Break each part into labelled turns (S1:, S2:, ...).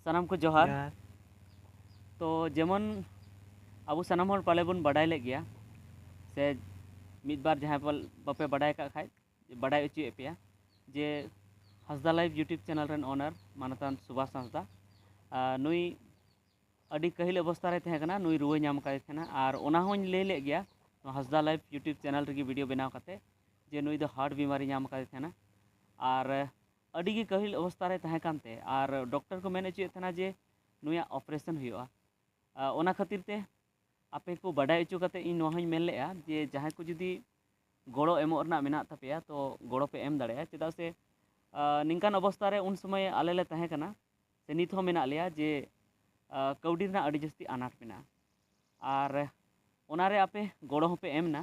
S1: ᱥᱟᱱᱟᱢ ᱠᱚ ᱡᱚᱦᱟᱨ
S2: ᱛᱚ
S1: ᱡᱮᱢᱚᱱ ᱟᱵᱚ ᱥᱟᱱᱟᱢ ᱦᱚᱲ ᱯᱟᱞᱮ ᱵᱚᱱ ᱵᱟᱰᱟᱭ ᱞᱮᱫ ᱜᱮᱭᱟ ᱥᱮ ᱢᱤᱫ ᱵᱟᱨ ᱡᱟᱦᱟᱸᱭ ᱯᱟᱞ ᱵᱟᱯᱮ ᱵᱟᱰᱟᱭ ᱠᱟᱜ ᱠᱷᱟᱡ ᱵᱟᱰᱟᱭ ᱦᱚᱪᱚᱭᱮᱫ ᱯᱮᱭᱟ ᱡᱮ ᱦᱟᱸᱥᱫᱟ ᱞᱟᱭᱤᱵᱷ ᱤᱭᱩᱴᱩᱵᱽ ᱪᱮᱱᱮᱞ ᱨᱮᱱ ᱚᱱᱟᱨ ᱢᱟᱱᱚᱛᱟᱱ ᱥᱩᱵᱷᱟᱥ ᱦᱟᱸᱥᱫᱟ ᱱᱩᱭ ᱟᱹᱰᱤ ᱠᱟᱹᱦᱤᱞ ᱚᱵᱚᱥᱛᱟ ᱨᱮ ᱛᱟᱦᱮᱸ ᱠᱟᱱᱟ ᱱᱩᱭ ᱨᱩᱣᱟᱹ ᱧᱟᱢ ᱠᱟᱭ ᱛᱟᱦᱮᱱᱟ ᱟᱨ ᱚᱱᱟ ᱦᱚᱸᱧ ᱞᱟᱹᱭ ᱞᱮᱫ ᱜᱮᱭᱟ ᱱᱚᱣᱟ ᱦᱟᱸᱥᱫᱟ ᱞᱟᱭᱤᱵᱷ ᱤᱭᱩᱴᱩᱵᱽ ᱪᱮᱱᱮᱞ ᱨᱮᱜᱮ ᱵᱷᱤᱰᱤᱭᱳ ᱵᱮᱱᱟᱣ ᱠᱟᱛᱮ ᱡᱮ ᱱᱩᱭ ᱫᱚ ᱦᱟᱨᱴ ᱵᱤᱢᱟᱨᱤ ᱧᱟᱢ ᱠᱟᱭ ᱛᱟᱦᱮᱱᱟ ᱟᱨ ᱟᱹᱰᱤ ᱜᱮ ᱠᱟᱹᱦᱤᱞ ᱚᱵᱚᱥᱛᱟ ᱨᱮ ᱛᱟᱦᱮᱸ ᱠᱟᱱ ᱛᱮ ᱟᱨ ᱰᱚᱠᱴᱚᱨ ᱠᱚ ᱢᱮᱱ ᱚᱪᱚᱭᱮᱫ ᱛᱟᱦᱮᱱᱟ ᱡᱮ ᱱᱩᱭᱟᱜ ᱚᱯᱟᱨᱮᱥᱚᱱ ᱦᱩᱭᱩᱜᱼᱟ ᱚᱱᱟ ᱠᱷᱟᱹᱛᱤᱨ ᱛᱮ ᱟᱯᱮ ᱠᱚ ᱵᱟᱰᱟᱭ ᱚᱪᱚ ᱠᱟᱛᱮ ᱤᱧ ᱱᱚᱣᱟ ᱦᱚᱧ ᱢᱮᱱ ᱞᱮᱜᱼᱟ ᱡᱮ ᱡᱟᱦᱟᱸᱭ ᱠᱚ ᱡᱩᱫᱤ ᱜᱚᱲᱚ ᱮᱢᱚᱜ ᱨᱮᱱᱟᱜ ᱢᱮᱱᱟᱜ ᱛᱟᱯᱮᱭᱟ ᱛᱚ ᱜᱚᱲᱚ ᱯᱮ ᱮᱢ ᱫᱟᱲᱮᱭᱟᱜᱼᱟ ᱪᱮᱫᱟᱜ ᱥᱮ ᱱᱤᱝᱠᱟᱱ ᱚᱵᱚᱥᱛᱟ ᱨᱮ ᱩᱱ ᱥᱚᱢᱚᱭ ᱟᱞᱮ ᱞᱮ ᱛᱟᱦᱮᱸ ᱠᱟᱱᱟ ᱥᱮ ᱱᱤᱛ ᱦᱚᱸ ᱢᱮᱱᱟᱜ ᱞᱮᱭᱟ ᱡᱮ ᱠᱟᱹᱣᱰᱤ ᱨᱮᱱᱟᱜ ᱟᱹᱰᱤ ᱡᱟᱹᱥᱛᱤ ᱟᱱᱟᱴ ᱢᱮᱱᱟᱜᱼᱟ ᱟᱨ ᱚᱱᱟ ᱨᱮ ᱟᱯᱮ ᱜᱚᱲᱚ ᱦᱚᱸᱯᱮ ᱮᱢ ᱮᱱᱟ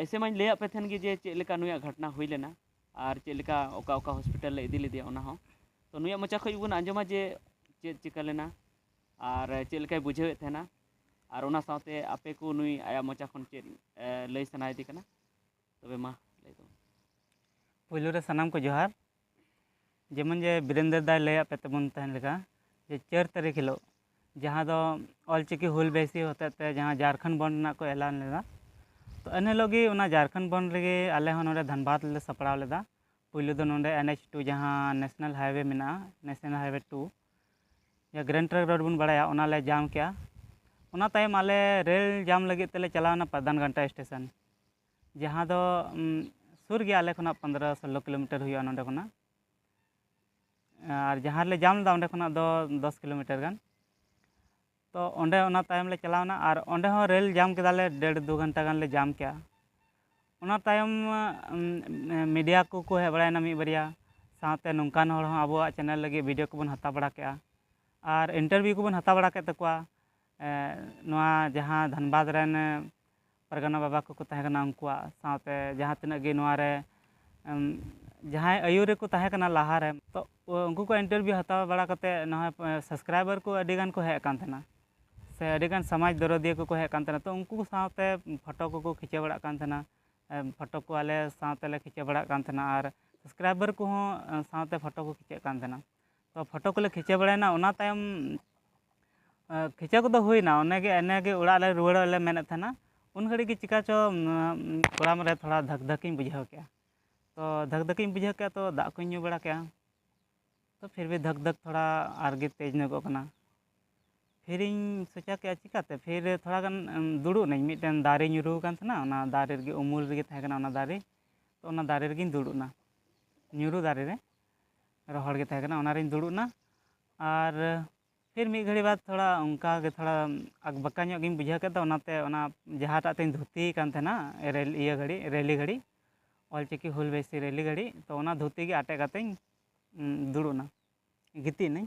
S1: ᱮᱭᱥᱮ ᱢᱟᱧ ᱞᱟᱹᱭᱟᱫ ᱯᱮ ᱛᱟᱦᱮᱱ ᱜᱮ ᱡᱮ ᱪᱮᱫ ᱞᱮᱠᱟ ᱱᱩᱭᱟᱜ ᱜᱷᱚᱴᱚᱱᱟ ᱦᱩᱭ ᱞᱮᱱᱟ ᱟᱨ ᱪᱮᱫ ᱞᱮᱠᱟ ᱚᱠᱟ ᱚᱠᱟ ᱦᱚᱥᱯᱤᱴᱟᱞ ᱞᱮ ᱤᱫᱤ ᱞᱮᱫᱮᱭᱟ ᱚᱱᱟ ᱦᱚᱸ ᱛᱚ ᱱᱩᱭᱟᱜ ᱢᱚᱪᱟ ᱠᱷᱚᱱ ᱜᱮᱵᱚᱱ ᱟᱸᱡᱚᱢᱟ ᱡᱮ ᱪᱮᱫ ᱪᱤᱠᱟᱹ ᱞᱮᱱᱟ ᱟᱨ ᱪᱮᱫ ᱞᱮᱠᱟᱭ ᱵᱩᱡᱷᱟᱹᱣᱮᱫ ᱛᱟᱦᱮᱱᱟ ᱟᱨ ᱚᱱᱟ ᱥᱟᱶᱛᱮ ᱟᱯᱮ ᱠᱚ ᱱᱩᱭ ᱟᱭᱟᱜ ᱢᱚᱪᱟ ᱠᱷᱚᱱ ᱪᱮᱫ ᱞᱟᱹᱭ ᱥᱟᱱᱟᱭᱮᱫᱮ ᱠᱟᱱᱟ ᱛᱚᱵᱮ ᱢᱟ ᱞᱟᱹᱭ ᱛᱟᱵᱚᱱ ᱯᱮ ᱯᱳᱭᱞᱳ
S2: ᱨᱮ ᱥᱟᱱᱟᱢ ᱠᱚ ᱡᱚᱦᱟᱨ ᱡᱮᱢᱚᱱ ᱡᱮ ᱵᱤᱨᱮᱱᱫᱚᱨ ᱫᱟᱭ ᱞᱟᱹᱭᱟᱫ ᱯᱮ ᱛᱟᱵᱚᱱ ᱛᱟᱦᱮᱱ ᱞᱮᱠᱟ ᱡᱮ ᱪᱟᱹᱨ ᱛᱟᱹᱨᱤᱠᱷ ᱦᱤᱞᱳᱜ ᱡᱟᱦᱟᱸ ᱫᱚ ᱚᱞ ᱪᱤᱠᱤ ᱦᱩᱞ ᱵᱟᱹᱭᱥᱤ ᱦᱚᱛᱮᱡ ᱛᱮ ᱡᱟᱦᱟᱸ ᱡᱷᱟᱲᱠᱷᱚᱸᱰ ᱵᱚᱱᱫᱷ ᱨᱮᱱᱟᱜ ᱠᱚ ᱮᱞᱟᱱ ᱞᱮᱫᱟ ᱛᱚ ᱮᱱ ᱦᱤᱞᱳᱜ ᱜᱮ ᱚᱱᱟ ᱡᱷᱟᱲᱠᱷᱚᱸᱰ ᱵᱚᱱᱫᱷ ᱨᱮᱜᱮ ᱟᱞᱮ ᱦᱚᱸ ᱱᱚᱰᱮ ᱫᱷᱟᱱᱵᱟᱫᱽ ᱨᱮᱞᱮ ᱥᱟᱯᱲᱟᱣ ᱞᱮᱫᱟ ᱯᱳᱭᱞᱳ ᱫᱚ ᱱᱚᱰᱮ ᱮᱱ ᱮᱭᱤᱪ ᱴᱩ ᱡᱟᱦᱟᱸ ᱱᱮᱥᱱᱮᱞ ᱦᱟᱭᱚᱭᱮ ᱢᱮᱱᱟᱜᱼᱟ ᱱᱮᱥᱱᱮᱞ ᱦᱟᱭᱚᱭᱮ ᱴᱩ ᱡᱟᱦᱟᱸ ᱜᱨᱮᱱᱰ ᱴᱨᱟᱝᱠ ᱨᱳᱰ ᱵᱚᱱ ᱵᱟᱲᱟᱭᱟ ᱚᱱᱟ ᱞᱮ ᱡᱟᱢ ᱠᱮᱜᱼᱟ ᱚᱱᱟ ᱛᱟᱭᱚᱢ ᱟᱞᱮ ᱨᱮᱹᱞ ᱡᱟᱢ ᱞᱟᱹᱜᱤᱫ ᱛᱮᱞᱮ ᱪᱟᱞᱟᱣᱱᱟ ᱯᱨᱚᱫᱷᱟᱱ ᱜᱷᱟᱱᱴᱟ ᱥᱴᱮᱥᱚᱱ ᱡᱟᱦᱟᱸ ᱫᱚ ᱥᱩᱨ ᱜᱮᱭᱟ ᱟᱞᱮ ᱠᱷᱚᱱᱟᱜ ᱯᱚᱱᱫᱽᱨᱚ ᱥᱳᱞᱞᱳ ᱠᱤᱞᱳᱢᱤᱴᱟᱨ ᱦᱩᱭᱩᱜᱼᱟ ᱱᱚᱸᱰᱮ ᱠᱷᱚᱱᱟᱜ ᱟᱨ ᱡᱟᱦᱟᱸ ᱨᱮᱞᱮ ᱡᱟᱢ ᱞᱮᱫᱟ ᱚᱸᱰᱮ ᱠᱷᱚᱱᱟᱜ ᱫᱚ ᱫᱚᱥ ᱠᱤᱞᱳᱢᱤᱴᱟᱨ ᱜᱟᱱ ᱛᱚ ᱚᱸᱰᱮ ᱚᱱᱟ ᱛᱟᱭᱚᱢ ᱞᱮ ᱪᱟᱞᱟᱣ ᱮᱱᱟ ᱟᱨ ᱚᱸᱰᱮ ᱦᱚᱸ ᱨᱮᱹᱞ ᱡᱟᱢ ᱠᱮᱫᱟ ᱞᱮ ᱰᱮᱹᱲ ᱫᱩ ᱜᱷᱚᱱᱴᱟ ᱜᱟᱱ ᱞᱮ ᱡᱟᱢ ᱠᱮᱜᱼᱟ ᱚᱱᱟ ᱛᱟᱭᱚᱢ ᱢᱤᱰᱤᱭᱟ ᱠᱚᱠᱚ ᱦᱮᱡ ᱵᱟᱲᱟᱭᱮᱱᱟ ᱢᱤᱫ ᱵᱟᱨᱭᱟ ᱥᱟᱶᱛᱮ ᱱᱚᱝᱠᱟᱱ ᱦᱚᱲ ᱦᱚᱸ ᱟᱵᱚᱣᱟᱜ ᱪᱮᱱᱮᱞ ᱞᱟᱹᱜᱤᱫ ᱵᱷᱤᱰᱭᱳ ᱠᱚᱵᱚᱱ ᱦᱟᱛᱟᱣ ᱵᱟᱲᱟ ᱠᱮᱜᱼᱟ ᱟᱨ ᱤᱱᱴᱟᱨᱵᱷᱤᱭᱩ ᱠᱚᱵᱚᱱ ᱦᱟᱛᱟᱣ ᱵᱟᱲᱟ ᱠᱮᱫ ᱛᱟᱠᱚᱣᱟ ᱱᱚᱣᱟ ᱡᱟᱦᱟᱸ ᱫᱷᱟᱱᱵᱟᱫᱽ ᱨᱮᱱ ᱯᱟᱨᱜᱟᱱᱟ ᱵᱟᱵᱟ ᱠᱚᱠᱚ ᱛᱟᱦᱮᱸ ᱠᱟᱱᱟ ᱩᱱᱠᱩᱣᱟᱜ ᱥᱟᱶᱛᱮ ᱡᱟᱦᱟᱸ ᱛᱤᱱᱟᱹᱜ ᱜᱮ ᱱᱚᱣᱟ ᱨᱮ ᱡᱟᱦᱟᱸᱭ ᱟᱹᱭᱩᱨ ᱨᱮᱠᱚ ᱛᱟᱦᱮᱸ ᱠᱟᱱᱟ ᱞᱟᱦᱟ ᱨᱮ ᱛᱚ ᱩᱱᱠᱩ ᱠᱚᱣᱟᱜ ᱤᱱᱴᱟᱨᱵᱷᱤᱭᱩ ᱦᱟᱛᱟᱣ ᱵᱟᱲᱟ ᱠᱟᱛᱮ ᱱᱚᱜᱼᱚᱸᱭ ᱥᱟᱵᱥᱠᱨᱟᱭᱵᱟᱨ ᱠᱚ ᱟᱹᱰᱤ ᱜᱟᱱ ᱠᱚ ᱦᱮᱡ ᱟᱠᱟᱱ ᱛᱟᱦᱮᱱᱟ ᱥᱮ ᱟᱹᱰᱤ ᱜᱟᱱ ᱥᱚᱢᱟᱡᱽ ᱫᱚᱨᱚᱫᱤᱭᱟᱹ ᱠᱚᱠᱚ ᱦᱮᱡ ᱟᱠᱟᱱ ᱛᱟᱦᱮᱱᱟ ᱛᱚ ᱩᱱᱠᱩ ᱠᱚ ᱥᱟᱶᱛᱮ ᱯᱷᱳᱴᱳ ᱠᱚᱠᱚ ᱠᱷᱤᱪᱟᱹᱣ ᱵᱟᱲᱟᱜ ᱠᱟᱱ ᱛᱟᱦᱮᱱᱟ ᱯᱷᱳᱴᱳ ᱠᱚ ᱟᱞᱮ ᱥᱟᱶᱛᱮᱞᱮ ᱠᱷᱤᱪᱟᱹᱣ ᱵᱟᱲᱟᱜ ᱠᱟᱱ ᱛᱟᱦᱮᱱᱟ ᱟᱨ ᱥᱟᱵᱥᱠᱨᱟᱭᱵᱟᱨ ᱠᱚᱦᱚᱸ ᱥᱟᱶᱛᱮ ᱯᱷᱳᱴᱳ ᱠᱚ ᱠᱷᱤᱪᱟᱹᱜ ᱠᱟᱱ ᱛᱟᱦᱮᱱᱟ ᱛᱚ ᱯᱷᱳᱴᱳ ᱠᱚᱞᱮ ᱠᱷᱤᱪᱟᱹᱣ ᱵᱟᱲᱟᱭᱮᱱᱟ ᱚᱱᱟ ᱛᱟᱭᱚᱢ ᱠᱷᱤᱪᱟᱹᱣ ᱠᱚᱫᱚ ᱦᱩᱭᱮᱱᱟ ᱚᱱᱮ ᱜᱮ ᱮᱱᱮ ᱜᱮ ᱚᱲᱟᱜ ᱞᱮ ᱨᱩᱣᱟᱹᱲᱚᱜ ᱞᱮ ᱢᱮᱱᱮᱫ ᱛᱟᱦᱮᱱᱟ ᱩᱱ ᱜᱷᱟᱹᱲᱤᱡ ᱜᱮ ᱪᱤᱠᱟᱹ ᱪᱚ ᱠᱚᱲᱟᱢ ᱨᱮ ᱛᱷᱚᱲᱟ ᱫᱷᱟᱠ ᱫᱷᱟᱠ ᱤᱧ ᱵᱩᱡᱷᱟᱹᱣ ᱠᱮᱜᱼᱟ ᱛᱚ ᱫᱷᱟᱠ ᱫᱷᱟᱠ ᱤᱧ ᱵᱩᱡᱷᱟᱹᱣ ᱠᱮᱜᱼᱟ ᱛᱚ ᱫᱟᱜ ᱠᱚᱧ ᱧᱩ ᱵᱟᱲᱟ ᱠᱮᱜᱼᱟ ᱛᱚ ᱯᱷᱤᱨ ᱵᱷᱤ ᱫᱷᱟᱠ ᱫᱷᱟᱠ ᱛᱷᱚᱲᱟ ᱟᱨ ᱜᱮ ᱛᱮᱡᱽ ᱧᱚᱜᱚᱜ ᱠᱟᱱᱟ ᱯᱷᱤᱨ ᱤᱧ ᱥᱚᱪᱟᱣ ᱠᱮᱜᱼᱟ ᱪᱤᱠᱟᱹᱛᱮ ᱯᱷᱤᱨ ᱛᱷᱚᱲᱟ ᱜᱟᱱ ᱫᱩᱲᱩᱵ ᱱᱟᱹᱧ ᱢᱤᱫᱴᱮᱱ ᱫᱟᱨᱮ ᱧᱩᱨᱩ ᱟᱠᱟᱱ ᱛᱟᱦᱮᱱᱟ ᱚᱱᱟ ᱫᱟᱨᱮ ᱨᱮᱜᱮ ᱩᱢᱩᱞ ᱨᱮᱜᱮ ᱛᱟᱦᱮᱸ ᱠᱟᱱᱟ ᱚᱱᱟ ᱫᱟᱨᱮ ᱛᱚ ᱚᱱᱟ ᱫᱟᱨᱮ ᱨᱮᱜᱮᱧ ᱫᱩᱲᱩᱵ ᱮᱱᱟ ᱧᱩᱨᱩ ᱫᱟᱨᱮ ᱨᱮ ᱨᱚᱦᱚᱲ ᱜᱮ ᱛᱟᱦᱮᱸ ᱠᱟᱱᱟ ᱚᱱᱟ ᱨᱤᱧ ᱫᱩᱲᱩᱵ ᱮᱱᱟ ᱟᱨ ᱯᱷᱤᱨ ᱢᱤᱫ ᱜᱷᱟᱹᱲᱤ ᱵᱟᱫᱽ ᱛᱷᱚᱲᱟ ᱚᱱᱠᱟ ᱜᱮ ᱛᱷᱚᱲᱟ ᱟᱠᱵᱟᱠᱟ ᱧᱚᱜ ᱜᱤᱧ ᱵᱩᱡᱷᱟᱹᱣ ᱠᱮᱫᱟ ᱚᱱᱟᱛᱮ ᱚᱱᱟ ᱡᱟᱦᱟᱸᱴᱟᱜ ᱛᱤᱧ ᱫᱷᱩᱛᱤ ᱠᱟᱱ ᱛᱟᱦᱮᱱᱟ ᱨᱮᱹᱞ ᱤᱭᱟᱹ ᱜᱷᱟᱹᱲᱤ ᱨᱮᱞᱤ ᱜᱷᱟᱹᱲᱤ ᱚᱞ ᱪᱤᱠᱤ ᱦᱩᱞ ᱵᱟᱭᱥᱤ ᱨᱮᱞᱤ ᱜᱷᱟᱹᱲᱤ ᱛᱚ ᱚᱱᱟ ᱫᱷᱩᱛᱤ ᱜᱮ ᱟᱴᱮᱫ ᱠᱟᱛᱮᱧ ᱫᱩᱲᱩᱵ ᱮᱱᱟ ᱜᱤᱛᱤᱡ ᱮᱱᱟᱹᱧ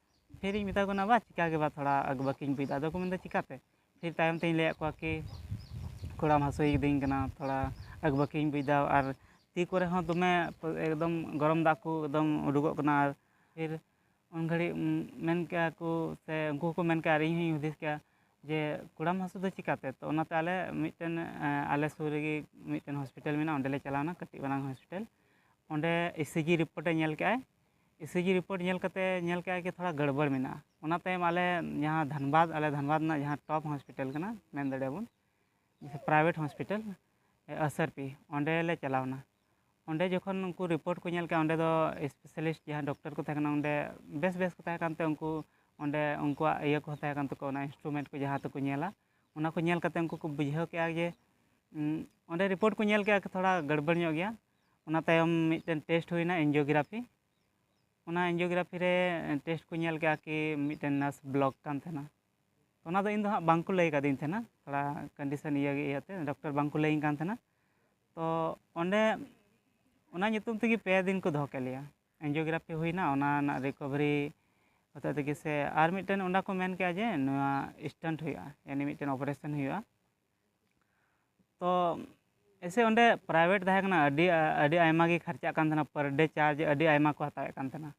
S2: ᱯᱷᱤᱨᱤᱧ ᱢᱮᱛᱟ ᱠᱚ ᱠᱟᱱᱟ ᱵᱟ ᱪᱤᱠᱟ ᱜᱮ ᱵᱟ ᱛᱷᱚᱲᱟ ᱵᱟᱹᱠᱤᱧ ᱵᱩᱡᱽᱫᱟ ᱟᱫᱚ ᱠᱚ ᱢᱮᱱᱫᱟ ᱪᱤᱠᱟᱛᱮ ᱯᱷᱤᱨ ᱛᱟᱭᱚᱢ ᱛᱤᱧ ᱞᱟᱹᱭᱟᱫ ᱠᱚᱣᱟ ᱠᱤ ᱠᱚᱲᱟᱢ ᱦᱟᱹᱥᱩᱭ ᱠᱤᱫᱤᱧ ᱠᱟᱱᱟ ᱛᱷᱚᱲᱟ ᱟᱠᱵᱟᱹᱠᱤᱧ ᱵᱩᱡᱽᱫᱟ ᱟᱨ ᱛᱤ ᱠᱚᱨᱮ ᱦᱚᱸ ᱫᱚᱢᱮ ᱮᱠᱫᱚᱢ ᱜᱚᱨᱚᱢ ᱫᱟᱜ ᱠᱚ ᱮᱠᱫᱚᱢ ᱩᱰᱩᱠᱚᱜ ᱠᱟᱱᱟ ᱟᱨ ᱯᱷᱤᱨ ᱩᱱ ᱜᱷᱟᱹᱲᱤᱡ ᱢᱮᱱ ᱠᱮᱜᱼᱟ ᱠᱚ ᱥᱮ ᱩᱱᱠᱩ ᱦᱚᱸᱠᱚ ᱢᱮᱱ ᱠᱮᱜᱼᱟ ᱟᱨ ᱤᱧ ᱦᱚᱸᱧ ᱦᱩᱫᱤᱥ ᱠᱮᱜᱼᱟ ᱡᱮ ᱠᱚᱲᱟᱢ ᱦᱟᱹᱥᱩ ᱫᱚ ᱪᱤᱠᱟᱛᱮ ᱛᱚ ᱚᱱᱟᱛᱮ ᱟᱞᱮ ᱢᱤᱫᱴᱮᱱ ᱟᱞᱮ ᱥᱩᱨ ᱨᱮᱜᱮ ᱢᱤᱫᱴᱮᱱ ᱦᱚᱥᱯᱤᱴᱟᱞ ᱢᱮᱱᱟᱜᱼᱟ ᱚᱸᱰᱮᱞᱮ ᱪᱟᱞᱟᱣᱱᱟ ᱠᱟᱹᱴᱤᱡ ᱢᱟᱨᱟᱝ ᱦᱚᱥᱯᱤᱴᱟᱞ ᱚᱸᱰᱮ ᱤ ᱥᱤ ᱡᱤ ᱨᱤᱯᱳᱨᱴ ᱮ ᱧᱮᱞ ᱠᱮᱜᱼᱟᱭ ᱤᱥᱤᱡᱤ ᱨᱤᱯᱳᱨᱴ ᱧᱮᱞ ᱠᱟᱛᱮ ᱧᱮᱞ ᱠᱮᱫᱼᱟ ᱠᱤ ᱛᱷᱚᱲᱟ ᱜᱟᱹᱲᱵᱟᱹᱲ ᱢᱮᱱᱟᱜᱼᱟ ᱚᱱᱟ ᱛᱟᱭᱚᱢ ᱟᱞᱮ ᱡᱟᱦᱟᱸ ᱫᱷᱟᱱᱵᱟᱫᱽ ᱟᱞᱮ ᱫᱷᱟᱱᱵᱟᱫᱽ ᱨᱮᱱᱟᱜ ᱡᱟᱦᱟᱸ ᱴᱚᱯ ᱦᱚᱥᱯᱤᱴᱟᱞ ᱠᱟᱱᱟ ᱢᱮᱱ ᱫᱟᱲᱮᱭᱟᱜᱼᱟ ᱵᱚᱱ private hospital S R P ᱚᱸᱰᱮ ᱞᱮ ᱪᱟᱞᱟᱣ ᱮᱱᱟ ᱚᱸᱰᱮ ᱡᱚᱠᱷᱚᱱ ᱩᱱᱠᱩ ᱨᱤᱯᱳᱨᱴ ᱠᱚ ᱧᱮᱞ ᱠᱮᱫᱼᱟ ᱚᱸᱰᱮ ᱫᱚ ᱮᱥᱯᱮᱥᱟᱞᱤᱥᱴ ᱡᱟᱦᱟᱸ ᱰᱚᱠᱴᱚᱨ ᱠᱚ ᱛᱟᱦᱮᱸ ᱠᱟᱱᱟ ᱚᱸᱰᱮ ᱵᱮᱥ ᱵᱮᱥ ᱠᱚ ᱛᱟᱦᱮᱸ ᱠᱟᱱᱛᱮ ᱩᱱᱠᱩ ᱚᱸᱰᱮ ᱩᱱᱠᱩᱣᱟᱜ ᱤᱭᱟᱹ ᱠᱚᱦᱚᱸ ᱛᱟᱦᱮᱸ ᱠᱟᱱ ᱛᱟᱠᱚᱣᱟ ᱚᱱᱟ ᱤᱱᱥᱴᱨᱩᱢᱮᱱᱴ ᱠᱚ ᱡᱟᱦᱟᱸ ᱛᱮᱠᱚ ᱧᱮᱞᱟ ᱚᱱᱟ ᱠᱚ ᱧᱮᱞ ᱠᱟᱛᱮ ᱩᱱᱠᱩ ᱠᱚ ᱵᱩᱡᱷᱟᱹᱣ ᱠᱮᱫᱼᱟ ᱡᱮ ᱚᱸᱰᱮ ᱨᱤᱯᱳᱨᱴ ᱠᱚ ᱧᱮᱞ ᱠᱮᱫᱼᱟ ᱛᱷᱚᱲᱟ ᱜᱟᱹᱲᱵᱟᱹᱲ ᱧᱚᱜ ᱜᱮᱭᱟ ᱚᱱᱟ ᱛᱟᱭᱚᱢ ᱢᱤᱫᱴᱮᱱ ᱴᱮᱥᱴ ᱦᱩᱭ ᱮᱱᱟ ᱮᱱᱡᱤᱭᱳᱜᱨᱟᱯᱷᱤ ᱚᱱᱟ ᱮᱱᱡᱤᱭᱳᱜᱨᱟᱯᱷᱤ ᱨᱮ ᱴᱮᱥᱴ ᱠᱚ ᱧᱮᱞ ᱠᱮᱫᱟ ᱠᱤ ᱢᱤᱫᱴᱮᱱ ᱱᱟᱨᱵᱷ ᱵᱞᱚᱠ ᱟᱠᱟᱱ ᱛᱟᱦᱮᱱᱟ ᱚᱱᱟ ᱫᱚ ᱤᱧ ᱫᱚ ᱦᱟᱸᱜ ᱵᱟᱝ ᱠᱚ ᱞᱟᱹᱭ ᱟᱠᱟᱫᱤᱧ ᱛᱟᱦᱮᱱᱟ ᱛᱷᱚᱲᱟ ᱠᱚᱱᱰᱤᱥᱚᱱ ᱤᱭᱟᱹ ᱤᱭᱟᱹ ᱛᱮ ᱰᱚᱠᱴᱚᱨ ᱵᱟᱝ ᱠᱚ ᱞᱟᱹᱭᱟᱹᱧ ᱠᱟᱱ ᱛᱟᱦᱮᱱᱟ ᱛᱚ ᱚᱸᱰᱮ ᱚᱱᱟ ᱧᱩᱛᱩᱢ ᱛᱮᱜᱮ ᱯᱮ ᱫᱤᱱ ᱠᱚ ᱫᱚᱦᱚ ᱠᱮᱫ ᱞᱮᱭᱟ ᱮᱱᱡᱤᱭᱳᱜᱨᱟᱯᱷᱤ ᱦᱩᱭ ᱮᱱᱟ ᱚᱱᱟ ᱨᱮᱱᱟᱜ ᱨᱤᱠᱳᱵᱷᱟᱨᱤ ᱦᱚᱛᱮᱡ ᱛᱮᱜᱮ ᱥᱮ ᱟᱨ ᱢᱤᱫᱴᱮᱱ ᱚᱸᱰᱮ ᱠᱚ ᱢᱮᱱ ᱠᱮᱫᱟ ᱡᱮ ᱱᱚᱣᱟ ᱥᱴᱮᱱᱴ ᱦᱩᱭᱩᱜᱼᱟ ᱮᱱᱮ ᱢᱤᱫᱴᱮᱱ ᱚᱯᱟᱨᱮᱥᱚᱱ ᱦᱩᱭᱩᱜᱼᱟ ᱛᱚ ᱮᱭᱥᱮ ᱚᱸᱰᱮ ᱯᱨᱟᱭᱵᱷᱮᱴ ᱛᱟᱦᱮᱸ ᱠᱟᱱᱟ ᱟᱹᱰᱤ ᱟᱹᱰᱤ ᱟᱭᱢᱟ ᱜᱮ ᱠᱷᱚᱨᱪᱟᱜ ᱠᱟᱱ ᱛᱟᱦᱮᱱᱟ ᱯᱟᱨ ᱰᱮ ᱪᱟᱨᱡᱽ ᱟᱹᱰᱤ ᱟᱭᱢᱟ ᱠᱚ ᱦᱟᱛᱟᱣᱮᱫ ᱠᱟᱱ ᱛᱟᱦᱮᱱᱟ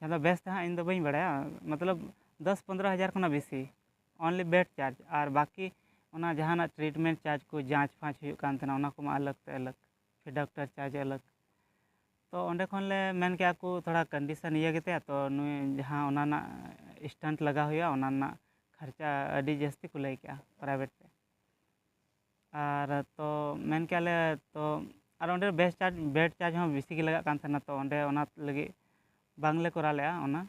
S2: ᱟᱫᱚ ᱵᱮᱥ ᱫᱚ ᱦᱟᱸᱜ ᱤᱧ ᱫᱚ ᱵᱟᱹᱧ ᱵᱟᱲᱟᱭᱟ ᱢᱚᱛᱞᱚᱵᱽ ᱫᱚᱥ ᱯᱚᱸᱫᱽᱨᱚ ᱦᱟᱡᱟᱨ ᱠᱷᱚᱱᱟᱜ ᱵᱮᱥᱤ ᱚᱱᱞᱤ ᱵᱮᱰ ᱪᱟᱨᱡᱽ ᱟᱨ ᱵᱟᱠᱤ ᱚᱱᱟ ᱡᱟᱦᱟᱱᱟᱜ ᱴᱨᱤᱴᱢᱮᱱᱴ ᱪᱟᱨᱡᱽ ᱠᱚ ᱡᱟᱸᱪᱼᱯᱷᱟᱸᱪ ᱦᱩᱭᱩᱜ ᱠᱟᱱ ᱛᱟᱦᱮᱱᱟ ᱚᱱᱟ ᱠᱚᱢᱟ ᱟᱞᱟᱜᱽ ᱛᱮ ᱟᱞᱟᱜᱽ ᱯᱷᱤᱨ ᱰᱟᱠᱴᱟᱨ ᱪᱟᱨᱡᱽ ᱟᱞᱟᱜᱽ ᱛᱚ ᱚᱸᱰᱮ ᱠᱷᱚᱱ ᱞᱮ ᱢᱮᱱ ᱠᱮᱫᱟ ᱠᱚ ᱛᱷᱚᱲᱟ ᱠᱚᱱᱰᱤᱥᱚᱱ ᱤᱭᱟᱹ ᱜᱮᱛᱟᱭᱟ ᱛᱚ ᱱᱩᱭ ᱡᱟᱦᱟᱸ ᱚᱱᱟ ᱨᱮᱱᱟᱜ ᱥᱴᱮᱱᱴ ᱞᱟᱜᱟᱣ ᱦᱩᱭᱩᱜᱼᱟ ᱚᱱᱟ ᱨᱮᱱᱟᱜ ᱠᱷᱚᱨᱪᱟ ᱟᱹᱰᱤ ᱡᱟᱹᱥᱛᱤ ᱠᱚ ᱞᱟᱹᱭ ᱠᱮᱫᱟ ᱯᱨᱟᱭᱵᱷᱮᱴ ᱛᱮ ᱟᱨ ᱛᱚ ᱢᱮᱱ ᱠᱮᱫᱟ ᱞᱮ ᱛᱚ ᱟᱨ ᱚᱸᱰᱮ ᱵᱮᱥ ᱪᱟᱨᱡᱽ ᱵᱮᱰ ᱪᱟᱨᱡᱽ ᱦᱚᱸ ᱵᱮᱥᱤ ᱜᱮ ᱞᱟᱜᱟᱜ ᱠᱟᱱ ᱛᱟᱦᱮᱱᱟ ᱛᱚ ᱚᱸᱰᱮ ᱚᱱᱟ ᱞᱟᱹᱜᱤᱫ ᱵᱟᱝ ᱞᱮ ᱠᱚᱨᱟᱣ ᱞᱮᱫᱟ ᱚᱱᱟ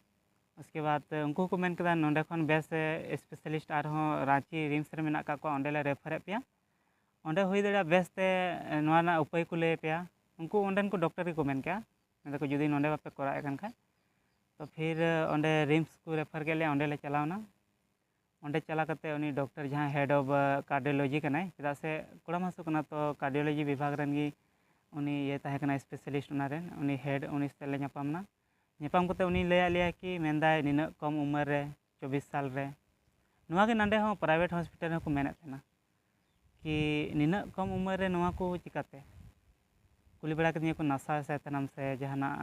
S2: ᱩᱥᱠᱮ ᱵᱟᱫᱽ ᱩᱱᱠᱩ ᱦᱚᱸᱠᱚ ᱢᱮᱱ ᱠᱮᱫᱟ ᱱᱚᱰᱮ ᱠᱷᱚᱱ ᱵᱮᱥ ᱥᱯᱮᱥᱟᱞᱤᱥᱴ ᱟᱨᱦᱚᱸ ᱨᱟᱺᱪᱤ ᱨᱤᱢᱥ ᱨᱮ ᱢᱮᱱᱟᱜ ᱠᱟᱜ ᱠᱚᱣᱟ ᱚᱸᱰᱮ ᱞᱮ ᱨᱮᱯᱷᱟᱨᱮᱫ ᱯᱮᱭᱟ ᱚᱸᱰᱮ ᱦᱩᱭ ᱫᱟᱲᱮᱭᱟᱜᱼᱟ ᱵᱮᱥ ᱛᱮ ᱱᱚᱣᱟ ᱨᱮᱱᱟᱜ ᱩᱯᱟᱹᱭ ᱠᱚ ᱞᱟᱹᱭ ᱟᱯᱮᱭᱟ ᱩᱱᱠᱩ ᱚᱸᱰᱮᱱ ᱠᱚ ᱰᱚᱠᱴᱚᱨ ᱜᱮᱠᱚ ᱢᱮᱱ ᱠᱮᱜᱼᱟ ᱢᱮᱱ ᱫᱟᱠᱚ ᱡᱩᱫᱤ ᱱᱚᱰᱮ ᱵᱟᱯᱮ ᱠᱚᱨᱟᱣᱮᱜ ᱠᱟᱱ ᱠᱷᱟᱡ ᱛᱚ ᱯᱷᱤᱨ ᱚᱸᱰᱮ ᱨᱤᱢᱥ ᱠᱚ ᱨᱮᱯᱷᱟᱨ ᱠᱮᱜ ᱞᱮᱭᱟ ᱚᱸᱰᱮ ᱞᱮ ᱪᱟᱞᱟᱣ ᱮᱱᱟ ᱚᱸᱰᱮ ᱪᱟᱞᱟᱣ ᱠᱟᱛᱮ ᱩᱱᱤ ᱰᱚᱠᱴᱚᱨ ᱡᱟᱦᱟᱸᱭ ᱦᱮᱰ ᱚᱯᱷ ᱠᱟᱨᱰᱤᱭᱳᱞᱚᱡᱤ ᱠᱟᱱᱟᱭ ᱪᱮᱫᱟᱜ ᱥᱮ ᱠᱚᱲᱟᱢ ᱦᱟᱹᱥᱩ ᱠᱟᱱᱟ ᱛᱚ ᱠᱟᱨᱰᱤᱭᱳᱞᱚᱡᱤ ᱵᱤᱵᱷᱟᱜᱽ ᱨᱮᱱ ᱜᱮ ᱩᱱᱤ ᱤᱭᱟᱹ ᱛᱟᱦᱮᱸ ᱠᱟᱱᱟᱭ ᱥᱯᱮᱥᱟᱞᱤᱥᱴ ᱚᱱᱟ ᱨᱮᱱ ᱩᱱᱤ ᱦᱮᱰ ᱩᱱᱤ ᱥᱟᱛᱮᱜ ᱞᱮ ᱧᱟᱯᱟᱢ ᱮᱱᱟ ᱧᱟᱯᱟᱢ ᱠᱟᱛᱮ ᱩᱱᱤ ᱞᱟᱹᱭᱟᱜ ᱞᱮᱭᱟᱭ ᱠᱤ ᱢᱮᱱᱫᱟᱭ ᱱᱤᱱᱟᱹᱜ ᱠᱚᱢ ᱩᱢᱮᱨ ᱨᱮ ᱪᱚᱵᱽᱵᱤᱥ ᱥᱟᱞ ᱨᱮ ᱱᱚᱣᱟ ᱜᱮ ᱱᱚᱰᱮ ᱦᱚᱸ ᱯᱨᱟᱭᱵᱷᱮᱴ ᱦᱚᱥᱯᱤᱴᱟᱞ ᱨᱮᱦᱚᱸ ᱠᱚ ᱢᱮᱱᱮᱫ ᱛᱟᱦᱮᱱᱟ ᱠᱤ ᱱᱤᱱᱟᱹᱜ ᱠᱚᱢ ᱩᱢᱮᱨ ᱨᱮ ᱱᱚᱣᱟ ᱠᱚ ᱪᱤᱠᱟᱹᱛᱮ ᱠᱩᱞᱤ ᱵᱟᱲᱟ ᱠᱤᱫᱤᱧᱟ ᱠᱚ ᱱᱟᱥᱟᱣ ᱮᱫ ᱛᱟᱦᱮᱱᱟᱢ ᱥᱮ ᱡᱟᱦᱟᱱᱟᱜ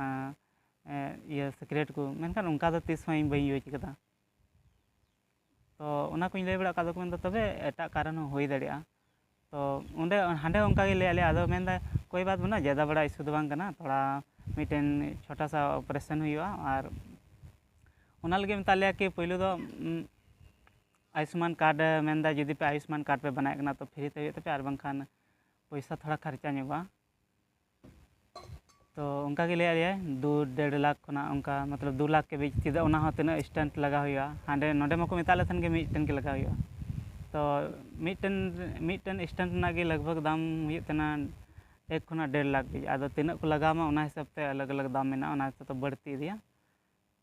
S2: ᱤᱭᱟᱹ ᱥᱤᱠᱨᱮᱴ ᱠᱚ ᱢᱮᱱᱠᱷᱟᱱ ᱚᱱᱠᱟ ᱫᱚ ᱛᱤᱥ ᱦᱚᱸ ᱤᱧ ᱵᱟᱹᱧ ᱤᱭᱩᱡᱽ ᱠᱟᱫᱟ ᱛᱚ ᱚᱱᱟ ᱠᱚᱧ ᱞᱟᱹᱭ ᱵᱟᱲᱟᱣ ᱠᱟᱜ ᱠᱚᱣᱟ ᱟᱫᱚ ᱠᱚ ᱢᱮᱱᱫᱟ ᱛᱚᱵᱮ ᱮᱴᱟᱜ ᱠᱟᱨᱚᱱ ᱦᱚᱸ ᱦᱩᱭ ᱫᱟᱲᱮᱭᱟᱜᱼᱟ ᱛᱚ ᱚᱸᱰᱮ ᱦᱟᱸᱰᱮ ᱦᱚᱸ ᱚᱱᱠᱟ ᱜᱮ ᱞᱟᱹᱭᱟᱫ ᱞᱮᱭᱟ ᱟᱫᱚ ᱢᱮᱱ ᱮᱫᱟᱭ ᱠᱳᱭ ᱵᱟᱛ ᱵᱟᱹᱱᱩᱜᱼᱟ ᱡᱟᱫᱟ ᱵᱟᱲᱟ ᱤᱥᱩ ᱫᱚ ᱵᱟᱝ ᱠᱟᱱᱟ ᱛᱷᱚᱲᱟ ᱢᱤᱫᱴᱮᱱ ᱪᱷᱳᱴᱟ ᱥᱟ ᱚᱯᱟᱨᱮᱥᱚᱱ ᱦᱩᱭᱩᱜᱼᱟ ᱟᱨ ᱚᱱᱟ ᱞᱟᱹᱜᱤᱫ ᱢᱮᱛᱟᱫ ᱞᱮᱭᱟ ᱠᱤ ᱯᱳᱭᱞᱳ ᱫᱚ ᱟᱭᱩᱥᱢᱟᱱ ᱠᱟᱨᱰ ᱢᱮᱱ ᱮᱫᱟᱭ ᱡᱩᱫᱤ ᱯᱮ ᱟᱭᱩᱥᱢᱟᱱ ᱠᱟᱨᱰ ᱯᱮ ᱵᱮᱱᱟᱣᱮᱫ ᱠᱟᱱᱟ ᱛᱚ ᱯᱷᱨᱤ ᱛᱮ ᱦᱩᱭᱩᱜ ᱛᱟᱯᱮᱭᱟ ᱟᱨ ᱵᱟᱝᱠᱷᱟᱱ ᱯᱚᱭᱥᱟ ᱛᱷᱚᱲᱟ ᱠᱷᱚᱨᱪᱟ ᱧᱚᱜᱚᱜᱼᱟ ᱛᱚ ᱚᱱᱠᱟ ᱜᱮ ᱞᱟᱹᱭᱟᱫ ᱞᱮᱭᱟᱭ ᱫᱩ ᱰᱮᱲ ᱞᱟᱠᱷ ᱠᱷᱚᱱᱟᱜ ᱚᱱᱠᱟ ᱢᱚᱛᱞᱚᱵ ᱫᱩ ᱞᱟᱠᱷ ᱠᱮ ᱵᱤᱪ ᱪᱮᱫᱟᱜ ᱚᱱᱟ ᱦᱚᱸ ᱛᱤᱱᱟᱹᱜ ᱥᱴᱮᱱᱴ ᱞᱟᱜᱟᱣ ᱦᱩᱭᱩᱜᱼᱟ ᱦᱟᱸᱰᱮ ᱱᱚᱰᱮ ᱢᱟᱠᱚ ᱢᱮᱛᱟᱜ ᱞᱮ ᱛᱟᱦᱮᱱ ᱜᱮ ᱢᱤᱫᱴᱮᱱ ᱜᱮ ᱞᱟᱜᱟᱣ ᱦᱩᱭᱩᱜᱼᱟ ᱛᱚ ᱢᱤᱫᱴᱮᱱ ᱢᱤᱫᱴᱮᱱ ᱥᱴᱮᱱᱴ ᱨᱮᱱᱟᱜ ᱜᱮ ᱞᱟᱜᱽ ᱵᱷᱟᱜᱽ ᱫᱟᱢ ᱦᱩᱭᱩᱜ ᱛᱟᱦᱮᱱᱟ ᱮᱠ ᱠᱷᱚᱱᱟᱜ ᱰᱮᱲ ᱞᱟᱠᱷ ᱫᱷᱟᱹᱵᱤᱡ ᱟᱫᱚ ᱛᱤᱱᱟᱹᱜ ᱠᱚ ᱞᱟᱜᱟᱣ ᱟᱢᱟ ᱚᱱᱟ ᱦᱤᱥᱟᱹᱵᱽ ᱛᱮ ᱟᱞᱟᱜᱽ ᱟᱞᱟᱜᱽ ᱫᱟᱢ ᱢᱮᱱᱟᱜᱼᱟ ᱚᱱᱟ ᱦᱤᱥᱟᱹᱵᱽ ᱛᱮ ᱵᱟᱹᱲᱛᱤ ᱤᱫᱤᱜᱼᱟ